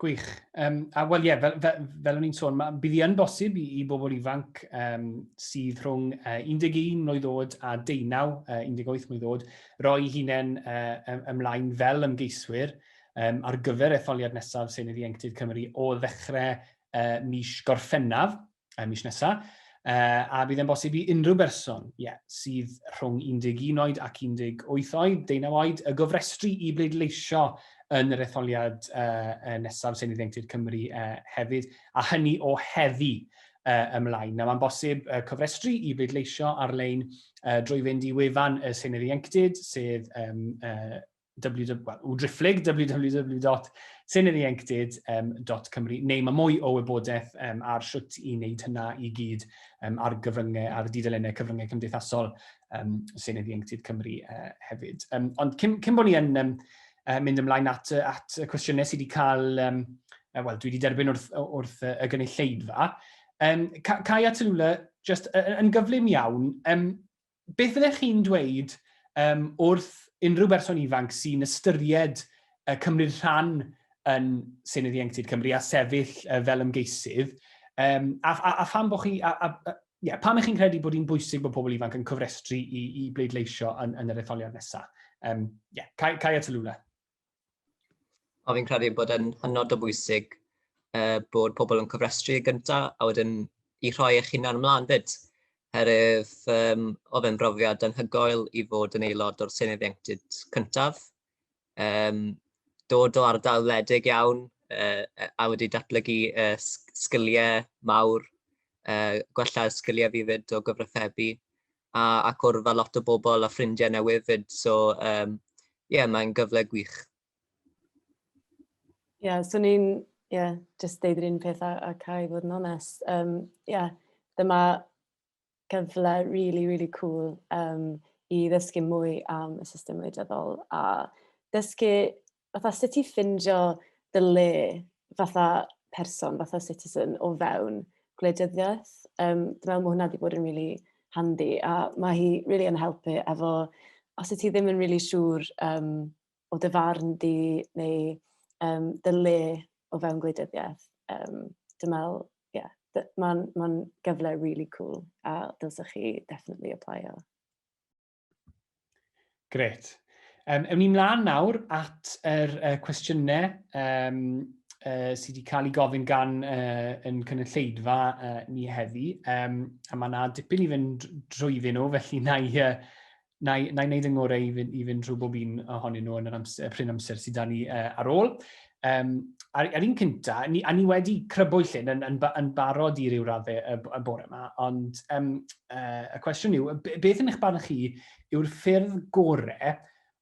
Gwych. Um, a wel ie, yeah, fel, fel, fel o'n i'n sôn, ma, bydd hi yn bosib i, i bobl ifanc um, sydd rhwng uh, 11 mlynedd oed a 19, uh, 18 mlynedd oed, roi hunain uh, ymlaen fel ymgeiswyr um, ar gyfer etholiad nesaf Senedd Ieuenctid Cymru o ddechrau uh, mis Gorffennaf y mis nesaf, a bydd e'n bosib i unrhyw berson ie, sydd rhwng 11 oed ac 18 oed, deunaw oed, y gofrestru i bleidleisio yn yr etholiad uh, nesaf Senedd Ieuenctid Cymru uh, hefyd, a hynny o heddi uh, ymlaen. Nawr, mae'n bosib uh, cofrestru i bleidleisio ar-lein uh, drwy fynd i wefan y Senedd Ieuenctid, sef um, uh, www.drifflig, www.seinyddieuenctid.cymru, neu mae mwy o wybodaeth um, ar sut i wneud hynna i gyd um, ar gyfryngau, ar dudalennau cyfryngau cymdeithasol um, Seinyddu Enctid Cymru uh, hefyd. Um, ond cyn, cyn bod ni yn um, uh, mynd ymlaen at, at y cwestiynau sydd wedi cael, um, uh, wel, dwi wedi derbyn wrth, wrth uh, y gynulleidfa, um, Cai a Tylwla, just uh, yn gyflym iawn, um, beth fyddech chi'n dweud um, wrth unrhyw berson ifanc sy'n ystyried uh, cymryd rhan yn Senedd Ieuenctid Cymru a sefyll uh, fel ymgeisydd, um, a, a, a pham bod chi, a, a, a, yeah, pam ych chi'n credu bod hi'n bwysig bod pobl ifanc yn cofrestru i, i bleidleisio yn, yn yr etholiad nesaf? Um, yeah, Kai, Kai a Talula. Ond fi'n credu bod e'n hynod o bwysig uh, bod pobl yn cofrestru yn gyntaf a wedyn i rhoi eich hunan ymlaen fyd. Herwydd um, oedd e'n brofiad anhygoel i fod yn aelod o'r Senedd Ieuenctid cyntaf. Um, dod o ardal wledig iawn uh, a wedi datblygu uh, sgiliau mawr, uh, gwella sgiliau fi fyd o gyfrifebu a a cwrdd â lot o bobl a ffrindiau newydd 'fyd, so um, yeah, mae'n gyfle gwych. Ie, yeah, so ni'n, ie, yeah, just deud yr un peth a, a cael ei fod yn onest. Ie, um, yeah, dyma gyfle really, really cool um, i ddysgu mwy am y system wleidyddol a dysgu fatha sut i ffindio dy le fatha person, fatha citizen o fewn gwleidyddiaeth. Um, dwi'n meddwl mae hwnna wedi bod yn really handi a mae hi really yn helpu efo, os y ti ddim yn really siŵr um, o dy farn di neu um, dy le o fewn gwleidyddiaeth, um, dwi'n meddwl, ie, yeah, mae'n ma gyfle really cool a dylsech chi definitely applio. Gret. Um, ewn ni mlaen nawr at yr uh, cwestiynau um, uh, sydd wedi cael ei gofyn gan uh, yn cynulleidfa uh, ni heddi. Um, a mae yna dipyn i fynd drwyddyn nhw, felly na i, uh, na i, na i wneud yng ngorau i fynd, i fynd drwy bob un ohonyn nhw yn yr amser, pryn amser sydd da ni uh, ar ôl. um, ar, ar un cynta, ni, a ni wedi crybwyll hyn yn, yn, yn barod i ryw raddau y, y bore yma, ond um, uh, y cwestiwn yw, beth yn eich barn chi yw'r ffyrdd gorau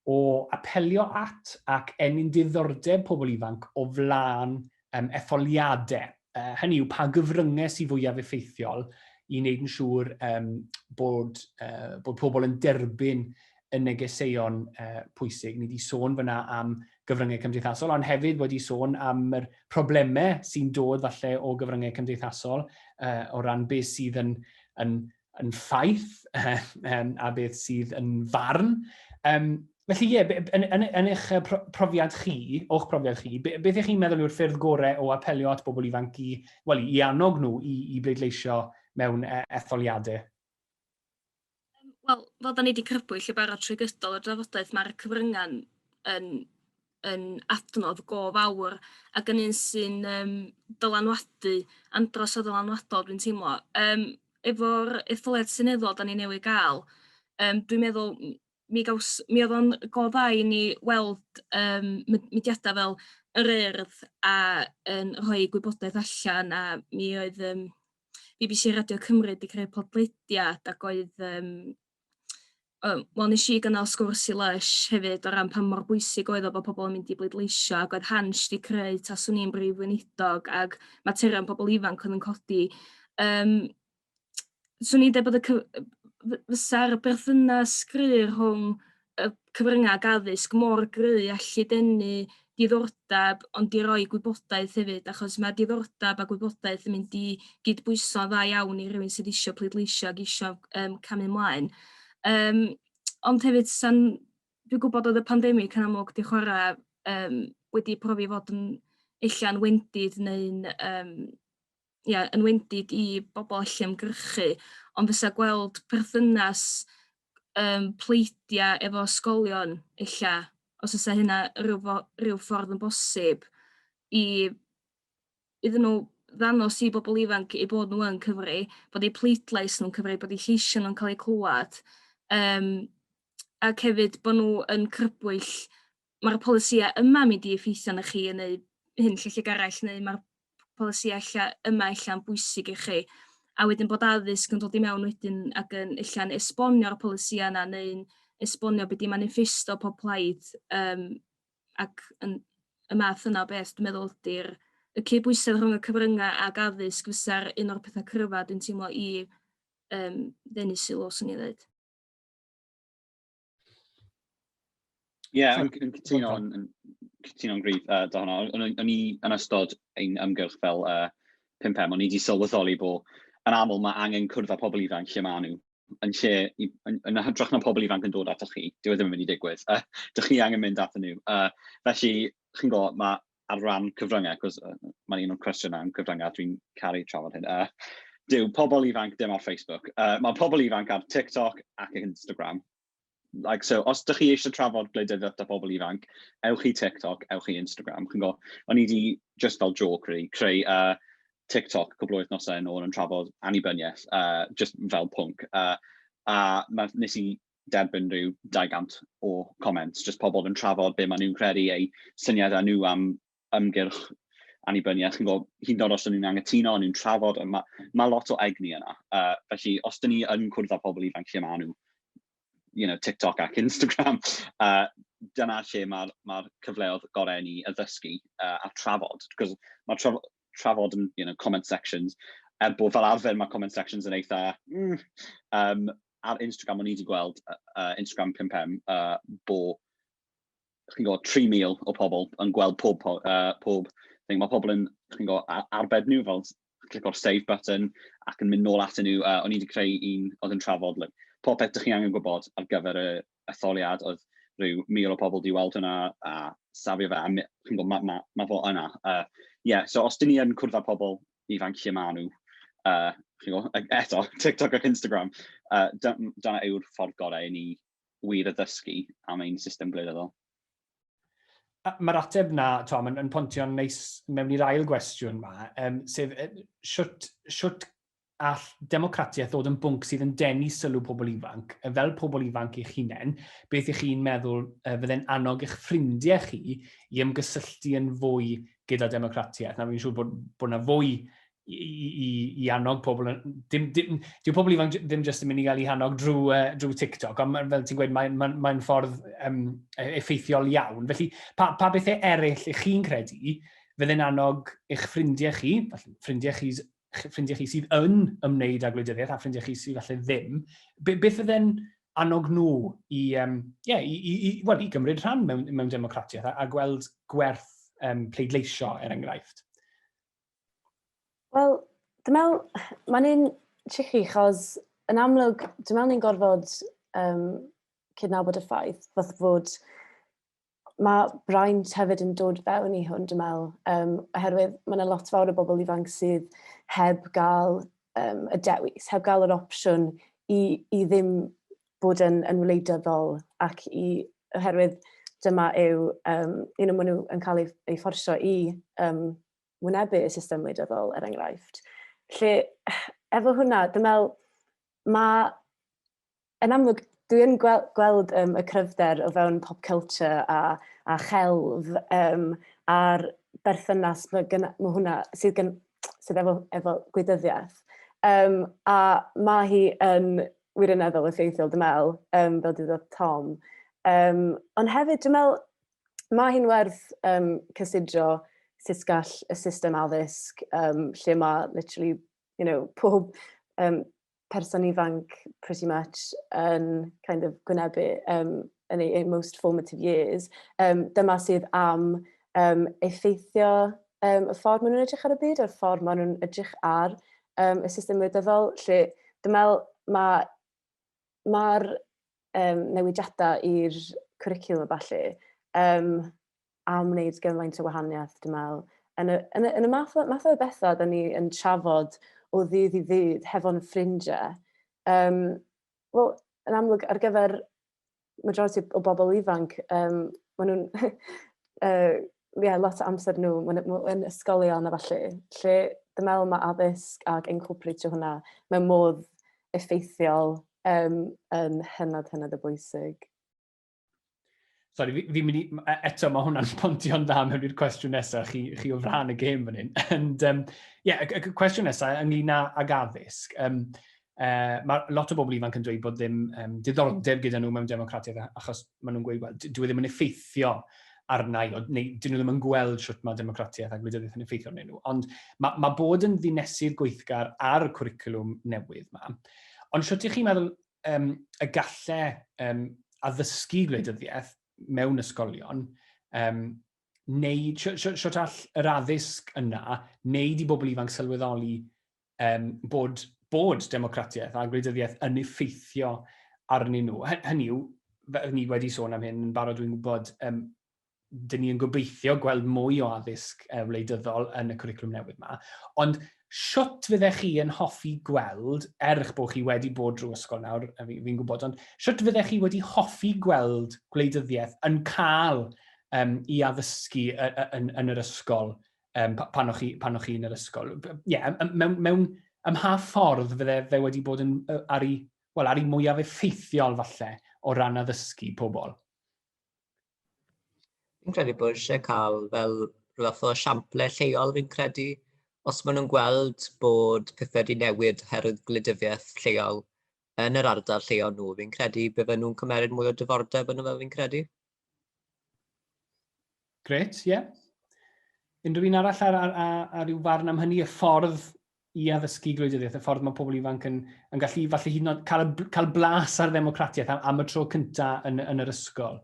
o apelio at ac ennyn diddordeb pobl ifanc o flaen um, etholiadau? Uh, hynny yw, pa gyfryngau sy'n fwyaf effeithiol i wneud yn siŵr um, bod, uh, bod pobl yn derbyn y negeseuon uh, pwysig. Ni wedi sôn fyna am gyfryngau cymdeithasol, ond hefyd wedi sôn am yr problemau sy'n dod falle o gyfryngau cymdeithasol uh, o ran beth sydd yn, yn, yn ffaith um, a beth sydd yn farn. Um, felly ie, yeah, yn, yn, yn eich profiad chi, o'ch profiad chi, beth ych chi'n meddwl yw'r ffyrdd gorau o apelio at bobl ifanc i, well, i annog nhw i, i bleidleisio mewn e, etholiadau? Yym wel fel 'dan ni 'di crybwyll yn barod trwy gydol y drafodaeth ma'r cyfrynga'n yn yn adnodd go fawr ac yn un sy'n yym dylanwadu andros o ddylanwadol dwi'n teimlo yym efo'r etholiad seneddol 'dan ni newydd ga'l yym dwi'n meddwl m- mi gaws mi odd o'n go dda i ni weld yym mud- mudiada fel yr Urdd a yn rhoi gwybodaeth allan a mi oedd yym bbc Radio Cymru 'di creu podlediad ac oedd yym yy wel nes i gynnal sgwrs i Lysh hefyd o ran pa mor bwysig oedd o bo' pobol yn mynd i bleidleisio ac oedd Hansh 'di creu taswn i'n brif weinidog ag materion pobol ifanc oedd yn codi yym swn i'n deud bod y cy- yy f- fysa'r berthynas gry rhwng y cyfryngau addysg mor gry a gallu denu diddordeb ond i roi gwybodaeth hefyd achos mae diddordeb a gwybodaeth yn mynd i gydbwyso dda iawn i rywun sydd eisiau pleidleisio ac eisiau um, camu ymlaen. Um, ond hefyd, san, dwi'n gwybod oedd y pandemig yn amlwg di chwarae um, wedi profi fod yn ella'n wendid neu'n um, ia, yn wendid i bobl allu ymgyrchu, ond fysa gweld perthynas um, pleidia efo ysgolion ella, os ysa hynna rhyw, rhyw ffordd yn bosib i iddyn nhw ddanos i bobl ifanc i bod nhw yn cyfri, bod eu pleidlais nhw'n cyfri, bod eu lleisiau nhw'n cael eu clywed, um, ac hefyd bod nhw yn crybwyll ma'r polisïau yma'n mynd i effeithio arnoch chi yn neu hyn lle lle garell neu ma'r polisïau ella yma ella'n bwysig i chi. A wedyn bod addysg yn dod i mewn wedyn ac yn ella'n esbonio'r polisïau yna neu'n esbonio beth di maniffesto pob plaid um, ac yn, y math yna o beth dwi'n meddwl ydy'r y cydbwysedd rhwng y cyfryngau ac addysg fysa'r un o'r pethau cryfa dwi'n teimlo i um, ddenu sylw, swn i'n dweud. Ie, yeah, yn, yn cytuno yn, yn cytuno'n gryf uh, da hwnna. O'n, o'n, o'n i yn ystod ein ymgyrch fel uh, 5 em o'n i wedi sylweddoli bod yn aml mae angen cwrdd â pobl ifanc lle maen nhw. Yn lle, yn, yn, yn hytrach na pobl ifanc yn dod atoch chi, dyw e ddim yn mynd i digwydd. Uh, dych chi angen mynd ato nhw. Uh, felly, chi'n gwybod, mae ar ran cyfryngau, cos uh, mae'n un o'n cwestiynau am cyfryngau, dwi'n caru trafod hyn. Uh, dyw pobl ifanc dim ar Facebook. Uh, mae pobl ifanc ar TikTok ac Instagram. Like, so, os ydych chi eisiau trafod gwleidyddiaeth da pobl ifanc, ewch i TikTok, ewch i Instagram. Chi'n go, o'n i wedi, just fel joke, really, creu uh, TikTok cwbl oedd nosau yn ôl yn trafod annibyniaeth, uh, just fel pwnc. Uh, a nes i derbyn rhyw 200 o comments, jyst pobl yn trafod be maen nhw'n credu, eu syniadau nhw am ymgyrch annibyniaeth, chi'n gwybod, hyd yn oed os ydyn nhw'n angytuno, ond nhw'n trafod, mae ma lot o egni yna. Uh, felly, os dyn ni yn cwrdd â pobl ifanc lle maen nhw, you know, TikTok ac Instagram, uh, dyna lle mae'r ma, cyfleodd gorau ni addysgu uh, a trafod. Cos mae traf trafod yn, you know, comment sections, er bod fel arfer mae comment sections yn eitha, mm, um, ar Instagram, o'n i wedi gweld uh, uh, Instagram 5M, uh, bo, chi'n gwybod, 3,000 o pobl yn gweld pob, uh, pob thing. Mae pobl yn, chi'n gwybod, arbed nhw fel clic o'r save button ac yn mynd nôl at nhw. Uh, o'n i wedi creu un oedd yn trafod like, popeth ydych chi angen gwybod ar gyfer y, etholiad oedd rhyw mil o pobl 'di weld hwnna a safio fe a my- chi'n gwybod, ma' ma' ma' fo yna. Yy ie, so os 'dyn ni yn cwrdd â pobl ifanc lle maen nhw, yy chi'n gwybod, e- eto TikTok ac Instagram, yy da- m- dyna yw'r ffordd gorau i ni wir addysgu am ein system gwleidyddol. A mae'r ateb 'na, Tom, yn, yn pontio'n neis mewn i'r ail gwestiwn 'ma, yym, sef yy shwt shwt all democratiaeth ddod yn bwnc sydd yn denu sylw pobl ifanc, fel pobl ifanc eich hunain, beth ych chi'n meddwl y fydde'n annog eich ffrindiau chi i ymgysylltu yn fwy gyda democratiaeth? Na, fi'n siŵr bod, bod yna fwy i, i, i annog pobl. Dim, dim, dyw pobl ifanc ddim jyst yn mynd i gael ei hannog drwy, uh, drwy TikTok, ond fel ti'n gweud, mae'n mae, mae ffordd um, effeithiol iawn. Felly, pa, pa bethau eraill ych chi'n credu fydde'n annog eich ffrindiau chi, ffrindiau chi ffrindiau chi sydd yn ymwneud â gwleidyddiaeth a ffrindiau chi sydd falle ddim, be, beth fydde'n annog nhw i, um, yeah, i, i, i, well, i gymryd rhan mewn, mewn democratiaeth a, a gweld gwerth um, pleidleisio, er enghraifft? Wel, dwi'n meddwl, mae'n un tricky, chos yn amlwg, dwi'n meddwl ni'n gorfod um, cydnabod y ffaith, fath fod mae braint hefyd yn dod fewn i hwn, dwi'n meddwl, um, oherwydd mae yna lot fawr o bobl ifanc sydd heb gael um, y dewis, heb gael yr opsiwn i, i ddim bod yn, yn wleidyddol ac i, oherwydd dyma yw, um, you know, maen nhw yn cael ei, ei fforsio i um, wynebu y system wleidyddol, er enghraifft. Lle, efo hwnna, dwi'n meddwl, mae Yn amlwg, dwi yn gwel gweld um, y cryfder o fewn pop culture a, a chelf um, a'r berthynas mae, gyna, mae hwnna sydd, gen, sydd efo, efo gwydyddiaeth. Um, a mae hi yn wirioneddol effeithiol, dwi'n meddwl, um, fel dyddodd Tom. Um, ond hefyd, dwi'n meddwl, mae hi'n werth um, cysidro sut gall y system addysg, um, lle mae literally, you know, pob um, person ifanc pretty much yn kind of gwynebu um, yn ei, most formative years, um, dyma sydd am um, effeithio um, y ffordd maen nhw'n edrych ar y byd a'r ffordd maen nhw'n edrych ar um, y system wleidyddol, lle dwi'n meddwl mae mae'r um, newidiadau i'r cwricwlwm a falle, um, am wneud gymaint o wahaniaeth, dwi'n meddwl. Yn y, yn y, yn y math, math o bethau da ni yn trafod o ddydd i ddydd hefo'n ffrindiau. Um, Wel, yn amlwg, ar gyfer majority o bobl ifanc, um, maen nhw'n... uh, yeah, lot o amser nhw yn ysgolion a falle, lle dwi'n meddwl mae addysg ac incorporatio hwnna mewn modd effeithiol um, yn hynod hynod o bwysig. Sorry, fi'n fi mynd i... E, eto, mae hwnna'n pontio'n dda mewn i'r cwestiwn nesaf, chi, chi o fran y gêm fan hyn. Ond, um, yeah, y, y cwestiwn nesaf ynglyn ag addysg. Um, uh, mae lot o bobl ifanc yn dweud bod ddim um, diddordeb gyda nhw mewn democratiaeth achos maen nhw'n gweud, well, dwi e ddim yn effeithio arnau, o, neu dyn nhw ddim yn gweld sut mae democratiaeth a gwleidyddiaeth yn effeithio arnyn nhw. Ond mae, mae bod yn ddinesydd gweithgar ar y cwricwlwm newydd yma. Ond sut ych chi'n meddwl um, y galle um, addysgu gwleidyddiaeth mewn ysgolion, um, neu siwt all yr addysg yna wneud i bobl ifanc sylweddoli um, bod, bod democratiaeth a gwleidyddiaeth yn effeithio arnyn nhw. Hynny yw, ni wedi sôn am hyn yn barod, dwi'n gwybod, um, dyn ni yn gobeithio gweld mwy o addysg uh, wleidyddol yn y cwricwlwm newydd yma, ond siwt fyddech chi yn hoffi gweld, er eich bod chi wedi bod drwy ysgol nawr, fi'n fi gwybod, ond siwt fyddech chi wedi hoffi gweld gwleidyddiaeth yn cael um, i addysgu yn, yn, yn yr ysgol um, pan o'ch chi, pan chi yn yr ysgol? Ie, yeah, mewn, mewn ym mha ffordd fydde fe wedi bod yn, ar, ei, well, ar ei mwyaf effeithiol falle o ran addysgu pobl? Fi'n credu bod eisiau cael fel rhyw fath o siamplau lleol fi'n credu. Os maen nhw'n gweld bod pethau wedi newid oherwydd gwleidyddiaeth lleol yn yr ardal lleol nhw, fi'n credu bydden nhw'n cymeryd mwy o dyfordeb yn y fel fi'n credu. Gret, ie. Yeah. Unrhyw un arall ar, ar, ar, ar ryw farn am hynny, y ffordd i addysgu gwleidyddiaeth, y ffordd mae pobl ifanc yn, yn gallu falle hyd yn oed cael, cael blas ar ddemocratiaeth am, am y tro cyntaf yn, yn yr ysgol.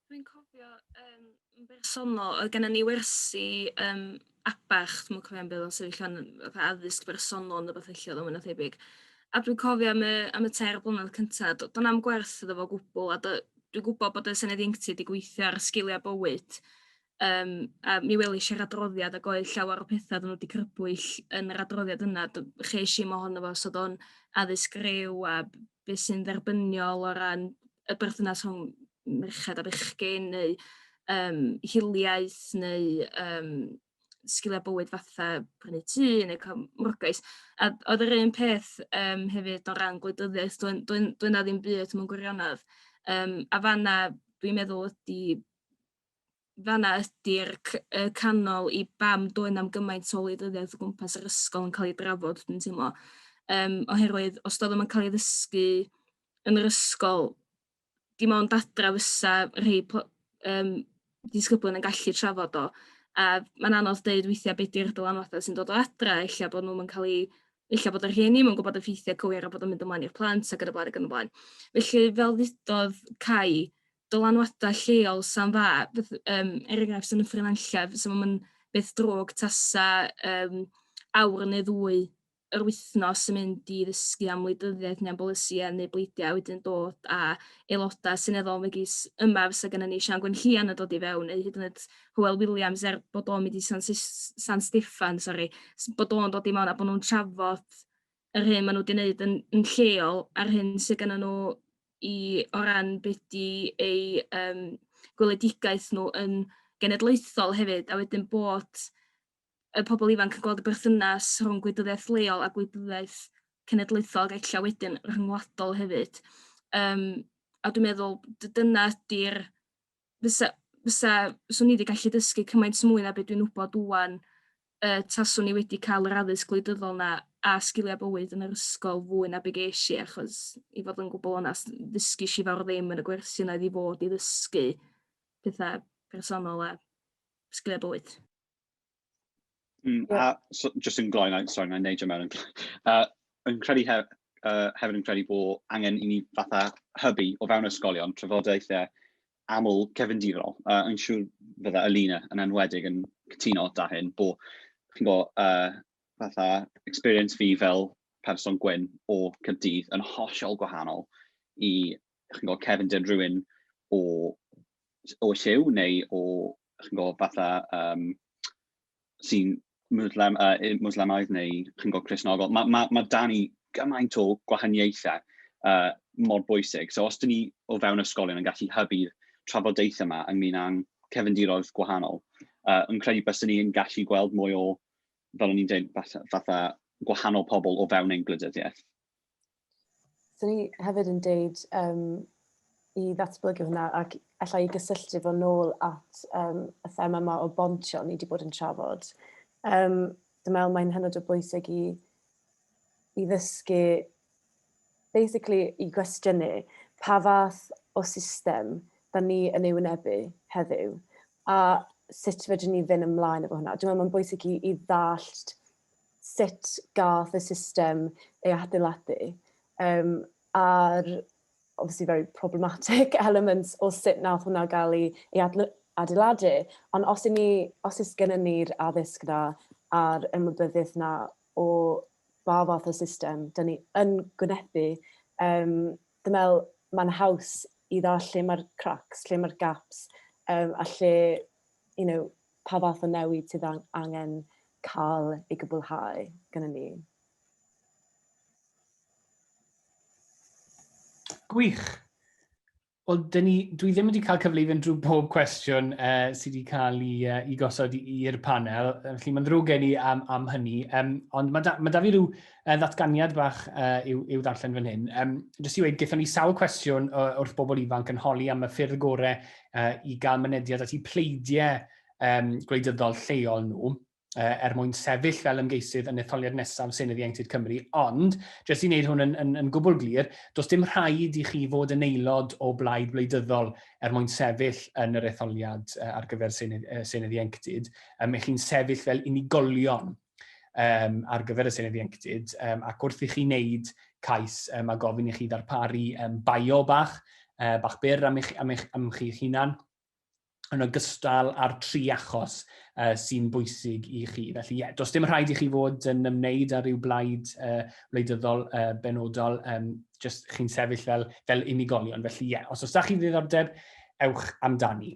Dwi'n cofio um, yn bersonol, oedd gennym ni wersi um, abach, dwi'n cofio am beth o'n sefyllfa'n addysg bersonol yn y beth felly oedd o'n thebyg. A dwi'n cofio am y, am y ter blynedd cyntaf, do'n am gwerth iddo fo gwbl, a dwi'n gwybod bod y Senedd Ieuenctid wedi gweithio ar sgiliau bywyd, Yym a mi welish i'r adroddiad ag oedd llawer o petha oddan nw 'di crybwyll yn yr adroddiad yna d- chesh i'm ohono fo so o'dd o'n addysg ryw a b- be' sy'n dderbyniol o ran y berthynas rhwng merched a bechgyn neu yym hiliaeth neu yym sgilia bywyd fatha prynu tŷ neu ca'l mwrgais a d- oedd yr un peth yym hefyd o ran gwleidyddiaeth do'n do'n doedd 'na ddim byd mewn gwirionedd yym a fanna dwi'n meddwl ydi fanna ydi'r c- y canol i bam doedd na'm gymaint o wleidyddiaeth o gwmpas yr ysgol yn cael ei drafod dwi'n teimlo. Yym oherwydd os doedd o'm yn cael ei ddysgu yn yr ysgol dim ond adra fysa rhei pl- yym disgyblion yn gallu trafod o a mae'n anodd deud weithiau be' 'di'r dylanwadau sy'n dod o adra ella bod nhw'm yn cael ei ella bod yr rhieni ddim yn gwbod y ffeithiau cywir a bod o'n mynd ymlaen i'r plant ac yn y blaen ac yn y blaen. Felly fel ddudodd Cai dylanwadau lleol sa'n dda, beth, um, er enghraifft yn y ffrinanllef, so mae'n beth drwg tasa um, awr neu ddwy yr wythnos yn mynd i ddysgu am wleidyddiaeth neu'n bolisïau neu bleidiau wedyn dod a aelodau syneddol megis yma fysa gen i ni Sian Gwenllian yn dod i fewn neu hyd yn oed Hywel Williams er bod o'n mynd i San, San Steffan, sori, bod o'n dod i mewn a bod nhw'n trafod yr hyn maen nhw wedi wneud yn, yn lleol a'r hyn sydd gen nhw i o ran beth di ei um, gweledigaeth nhw yn genedlaethol hefyd, a wedyn bod y pobl ifanc yn gweld y berthynas rhwng gwydyddiaeth leol a gwydyddiaeth cenedlaethol ac eich wedyn rhyngwladol hefyd. Um, a dwi'n meddwl dyna ydy'r fysa fysa... 'swn i wedi gallu dysgu cymaint mwy na be' dwi'n wybod ŵan y taswn i wedi cael yr addysg gwleidyddol 'na a sgiliau bywyd yn yr ysgol fwy na be' gesh i achos i fod yn gwbwl onast ddysgues i fawr ddim yn y gwersi yna oedd i fod i ddysgu petha personol a sgiliau bywyd. Mm, yeah. a, so, just yn gloi, sorry, na'n neidio mewn, uh, yn credu hef, uh, hefyd yn credu bod angen i ni fatha hybu o fewn ysgolion trafodaethau aml cefndirol. Uh, yn siŵr fydda Alina yn enwedig yn cytuno da hyn, bod chi'n gwybod, uh, fatha experience fi fel person gwyn o Cyrdydd yn hollol gwahanol i chi'n gwybod, cefndir rhywun o, o lliw neu o, chi'n gwybod, fatha um, sy'n Muslim, uh, Muslimaidd neu chi'n gwybod Cresnogol. Mae ma, ma dan ni gymaint o gwahaniaethau uh, mor bwysig. So os dyn ni o fewn ysgolion yn gallu hybu'r trafodaethau yma ynglyn â'n cefndiroedd gwahanol, uh, yn credu bys ni yn gallu gweld mwy o, fel o'n i'n dweud, fatha, fatha gwahanol pobl o fewn ein gwleidyddiaeth. Swn i hefyd yn deud yym i ddatblygu hwnna ac alla i gysylltu fo nôl at yym y thema yma o bontio ni wedi bod yn trafod. Yym dwi'n meddwl mae'n hynod o bwysig i i ddysgu basically i gwestiynu pa fath o system da ni yn ei wynebu heddiw a sut fedrwn ni fynd ymlaen efo hwnna. Dwi'n meddwl mae'n bwysig i i ddallt sut gath y system ei adeiladu, um, a'r obviously very problematic elements o sut nath hwnna gael ei, ei adeiladu. Ond os, ni, os ys gennym ni'r addysg na a'r ymwybyddiaeth na o ba fath o system, dyn ni yn gwynebu, um, dwi'n meddwl mae'n haws i dda lle mae'r cracks, lle mae'r gaps, um, a lle you know, pa fath o newid sydd angen cael ei gwblhau gyda ni. Gwych. Wel, dyn ni, dwi ddim wedi cael cyfle i fynd drwy pob cwestiwn uh, sydd wedi cael ei, uh, i gosod i'r panel, felly mae'n ddrwg gen i am, am hynny. Um, ond mae da, mae da fi rhyw Y ddatganiad bach i'w ddarllen fan hyn, jyst i weud, gaethon ni sawl cwestiwn wrth bobl ifanc yn holi am y ffyrdd gorau i gael mynediad at eu pleidiau gwleidyddol lleol nhw, er mwyn sefyll fel ymgeisydd yn etholiad nesaf Senedd Ieuenctid Cymru, ond, jyst i wneud hwn yn gwbl glir, does dim rhaid i chi fod yn aelod o blaid wleidyddol er mwyn sefyll yn yr etholiad ar gyfer Senedd Ieuenctid, y'ch chi'n sefyll fel unigolion. um, ar gyfer y Senedd Ieuenctid, um, ac wrth i chi wneud cais, um, mae gofyn i chi ddarparu um, bio bach, uh, bach byr am, eich, am, eich, am chi'ch hunan, yn ogystal â'r tri achos uh, sy'n bwysig i chi. Felly, ie, yeah, does dim rhaid i chi fod yn ymwneud â rhyw blaid uh, wleidyddol uh, benodol, um, just chi'n sefyll fel, fel unigolion. Felly, ie, yeah, os oes da chi ddiddordeb, ewch amdani.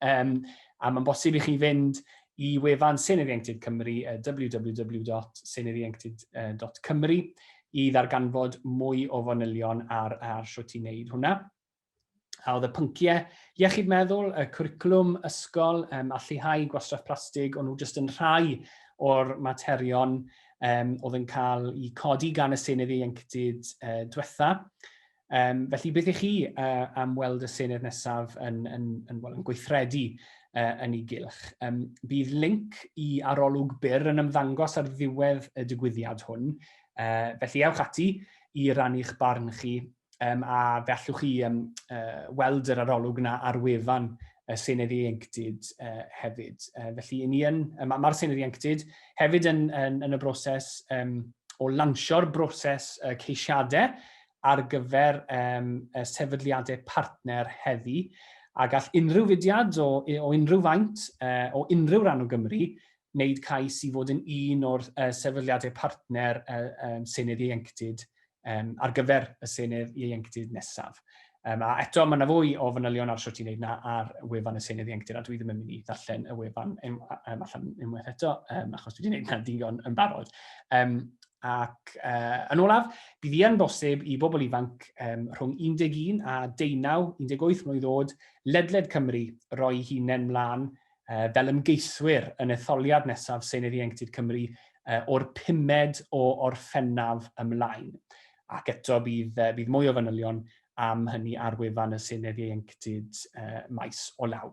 Um, a mae'n bosib i chi fynd i wefan Senedd Ieuenctid Cymru, uh, www.seneddienctid.cymru, i ddarganfod mwy o fanylion ar, ar sio ti'n neud hwnna. A oedd y pynciau iechyd meddwl, y cwricwlwm, ysgol, um, a lleihau gwastraff plastig, ond nhw jyst yn rhai o'r materion um, oedd yn cael eu codi gan y Senedd Ieuenctid uh, diwetha. Um, felly, beth i chi uh, am weld y Senedd nesaf yn, yn, yn, well, yn gweithredu uh, yn ei gylch? Um, bydd link i arolwg byr yn ymddangos ar ddiwedd y digwyddiad hwn, uh, felly ewch ati i rannu'ch barn chi um, a fe allwch chi um, uh, weld yr arolwg yna ar wefan y Senedd Ieuenctid uh, hefyd. Uh, felly, ni yn, mae'r ma Senedd Ieuenctid hefyd yn, yn, yn y broses um, o lansio'r broses uh, ceisiadau ar gyfer ehm y sefydliadau partner heddi a gall unrhyw fudiad o o unrhyw faint eh o unrhyw ran o Gymru wneud cais i fod yn un o'r eh sefydliadau partner eh ehm Senedd Ieuenctid ehm ar gyfer y Senedd Ieuenctid nesaf. Ehm a eto mae 'na fwy o fanylion ar shwt i wneud 'na ar wefan y Senedd Ieuenctid a dwi ddim yn mynd i ddarllen y wefan ehm allan unwaith eto ehm achos dwi 'di 'neud 'na digon yn barod. Ehm Ac uh, yn olaf, bydd yn bosib i bobl ifanc um, rhwng 11 a 19, 18 mlynedd oed, ledled Cymru, roi hunain mlaen uh, fel ymgeiswyr yn etholiad nesaf Senedd Ieuenctid Cymru uh, o'r pumed o orffennaf ymlaen. Ac eto bydd, uh, bydd mwy o fanylion am hynny ar wefan y Senedd Ieuenctid uh, maes o law.